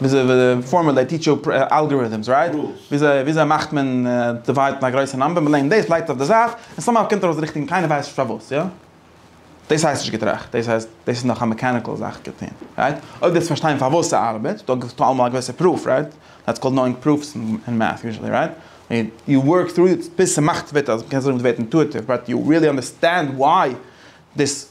וויאזוי די פארמער זיי טיטש יו אלגאריטעמס רייט? וויאזוי וויאזוי מאכט מען דיווייד פון א גרויסע נאמבער, מ'לערנט דאס לייגט אויף די זייט, און סאמהאו קומט ארויס ריכטיג און קיינער ווייסט נישט פארוואס יא? דאס הייסט נישט געטראכט, דאס הייסט דאס איז נאך א מעקעניקעל זאך געטון רייט? אויב דאס פארשטיין פארוואס ס'ארבעט דאן געבסטו אלעמאל א געוויסע פרוף רייט? דעטס קאלד נאואינג פרופס אין מעטס יוזשעלי רייט? יו ווארק טרו איט ביז ס'מאכט ווערט אז מ'קען זאגן ווערט אינטואיטיוו באט יו ריעלי אנדערסטענד וויי דאס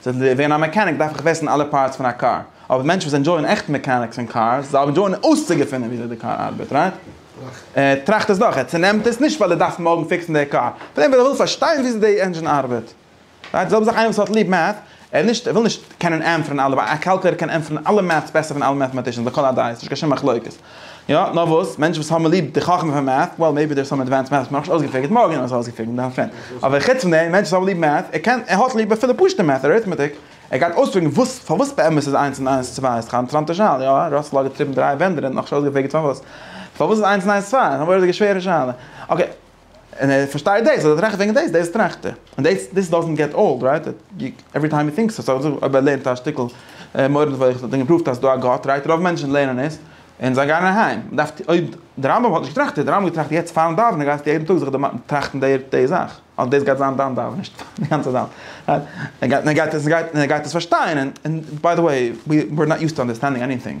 צו ווערן א מעקעניק דארף איך וויסן אלע פארטס פון א קאר, אבער מענטשן וואס ענדזשויען עכט מעקעניקס און קארס, זיי ענדזשויען אויסצוגעפינען וויאזוי די קאר ארבעט, רייט? ער טראכט עס דורך, ער צונעמט עס, נישט ווייל ער דארף מארגן פיקסן די קאר, פלעין ווייל ער וויל פארשטיין וויאזוי די ענדזשין ארבעט, רייט? די זעלבע זאך איינער וואס האט ליב מעט, ער נישט, ער וויל נישט קענען ענטפערן אלע, ווייל א קאלקולעיטער קען ענטפערן אלע מעטס בעסער פון אלע מעטעמאטישאנס לכל הדעות, נישט קיין שום מחלוקת, יא, נאר וואס, מענטשן וואס האבן ליב די חכמה פון מעט, וועל מעיבי דער איז סאם עדווענסד מעט וואס מ'האט נאכנישט אויסגעפיגערט, מארגן וועלן מיר עס אויסגעפיגערן, דאן פיין, אבער חוץ פון דעם, מענטשן וואס האבן ליב מעט, ער קען, ער האט ליב אפילו פשוט'ע מעט, אריטמעטיק, ער גייט אויספיגערן וואס, פארוואס באמת איז איינס און איינס צוויי, ס'איז א אינטערעסאנטע שאלה, יא, ראסעל האט געטריבן דריי ווענדער און נאכנישט אויסגעפיגערט פארוואס, פארוואס איז איינס און איינס צוויי, נאר וואס איז די שווערע שאלה, אקעי. און ער פארשטייט דאס, און ער טראכט וועגן דאס, דאס טראכט ער, און דאס דאס דאזענט געט אולד, רייט? עווערי טיים הי טינקס, סאו אויב ער לערנט א שטיקל מורה נבוכים וואס האט אים געפראווט אז ס'איז דא א גאט, רייט? רוב מענטשן לערנען עס, און זיי גייען אהיים. מען דארף, אויב דער רמב ם האט נישט געטראכט, האט דער רמב ם געטראכט יעצט פארן דאווענען גייסטו יעדן טאג זיך טראכטן די די זאך, אז דאס גייט זיין דיין דאווענען, נישט די גאנצע זאך, רייט? און ער גייט עס פארשטיין, און ביי די וועי, וויר נאט יוזט טו אנדערסטענדינג עניטינג.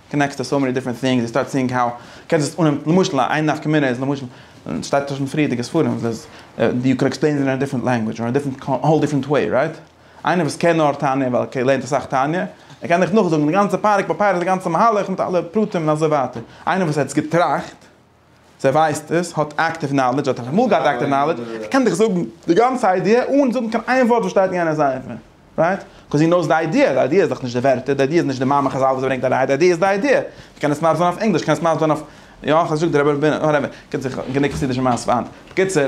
קאנעקטס טו סאו מעני דיפרענט טינגס, יו סטארט סיאינג האו קענסט עס אננעמען, למשל איין נפקא מינה איז למשל, און ס'שטייט אויך אין פריערדיגע ספרים, וואס יו קען עקספלעין איט אין א דיפרענט לענגווידזש, און א דיפרענט, האול דיפרענט וועי, רייט? איינער וואס קען נאר תניא ווייל ער לערנט אסאך תניא, ער קען דיך נאכזאגן די גאנצע פרק ביי פרק די גאנצע מהלך מיט אלע פרטים און אזוי ווייטער, איינער וואס האט עס געטראכט, זיי ווייסט עס, האט אקטיוו נאלעדזש, האט אלעמאל געהאט אקטיוו נאלעדזש, ער קען דיך זאגן די גאנצע איידיע אן זאגן קיין איין ווארט וואס שטייט אין יענער ספר, רייט? קאז הי נאוס די איידיע, די איידיע איז דאך נישט די ווערטער, די איידיע איז נישט די מאמר חזל וואס ברענגט אריין, די איידיע איז די איידיע, מען קען עס מסביר זיין אויף ענגליש, מען קען עס מסביר זיין אויף, יא, איך האב נישט געזאגט די רבי, וואטעווער, קומט זיך גענוג חסידישע מאסן פארהאן, בקיצור,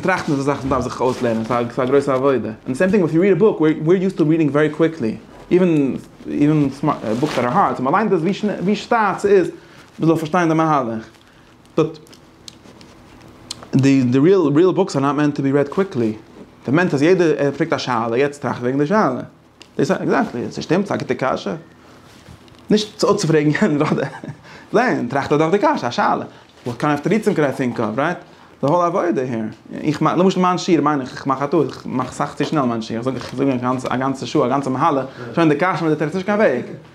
טראכטן איז א זאך וואס מען דארף זיך אויסלערנען, ס'איז א גרויסע עבודה, און סעים טינג ווען יו ריעד א בוק, ווי אר יוזט טו ריעדינג ווערי קוויקלי, איווען, איווען בוקס דעט אר הארד, ווען מען ליינט עס ווי שטאט ס'איז, מען זאל פארשטיין די מהלך, דארט די די ריעל ריעל בוקס אר נאט מענט טו בי רעד קוויקלי, דער מענטש אז יעדער ער פרעגט א שאלה יעצט טראכט וועגן די שאלה, דאס א עקזעקטלי עס שטימט ס'א גוטע קשיא, נישט צו אפצופרעגן יענער אדער זען טראכט ער דאך די קשיא א שאלה, וואט קאנד אוו תירוצים קען איי טינק אוו רייט? די האול עבודה העיר, איך מיין למשל מיין שיעור מיין איך איך מאך א טעות איך מאך סאך צו שנעל מיין שיעור איך זאג איך זאג א גאנצע שעה א גאנצע מהלך שוין די קשיא מיט די תירוץ נישט קיין וועג.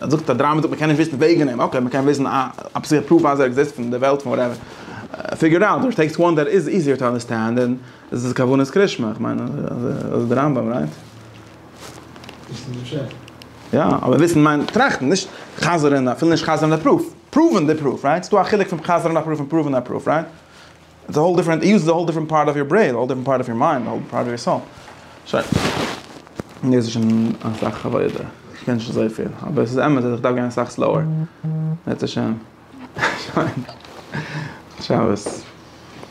ער זאגט א דראמא זאגט מען קען נישט וויסן וועגן אים אקעי מען קען וויסן א א פסיכישע פרוף אז ער עקזיסט אין די וועלט פון וואטעווער פיגור איט אוט אר טעקסט וואן דעט איז איזיער טו אנדערסטענד און עס איז כוונת קרישמע איך מיין אזוי די רמב ם רייט. וויסן איז פשט. יא אבער וויסן מיינט טראכטן נישט חזר'ן אפילו נישט חזר'ן די פרוף פראווען די פרוף רייט ס'דא א חילוק פון חזר'ן א פרוף און פראווען א פרוף רייט. איטס א האול דיפרענט איוס איז א האול דיפרענט פארט אוו יור ברעין א האול דיפרענט פארט אוו יור מיינד א האול דיפרענט פארט אוו יור סאול שוין דאס איז שוין אסאך עבודה איך קען נישט אזויפיל אבער עס איז אמת אז איך דארף גיין אסאך סלאוער בעזהשי ת שוין גוט שבת.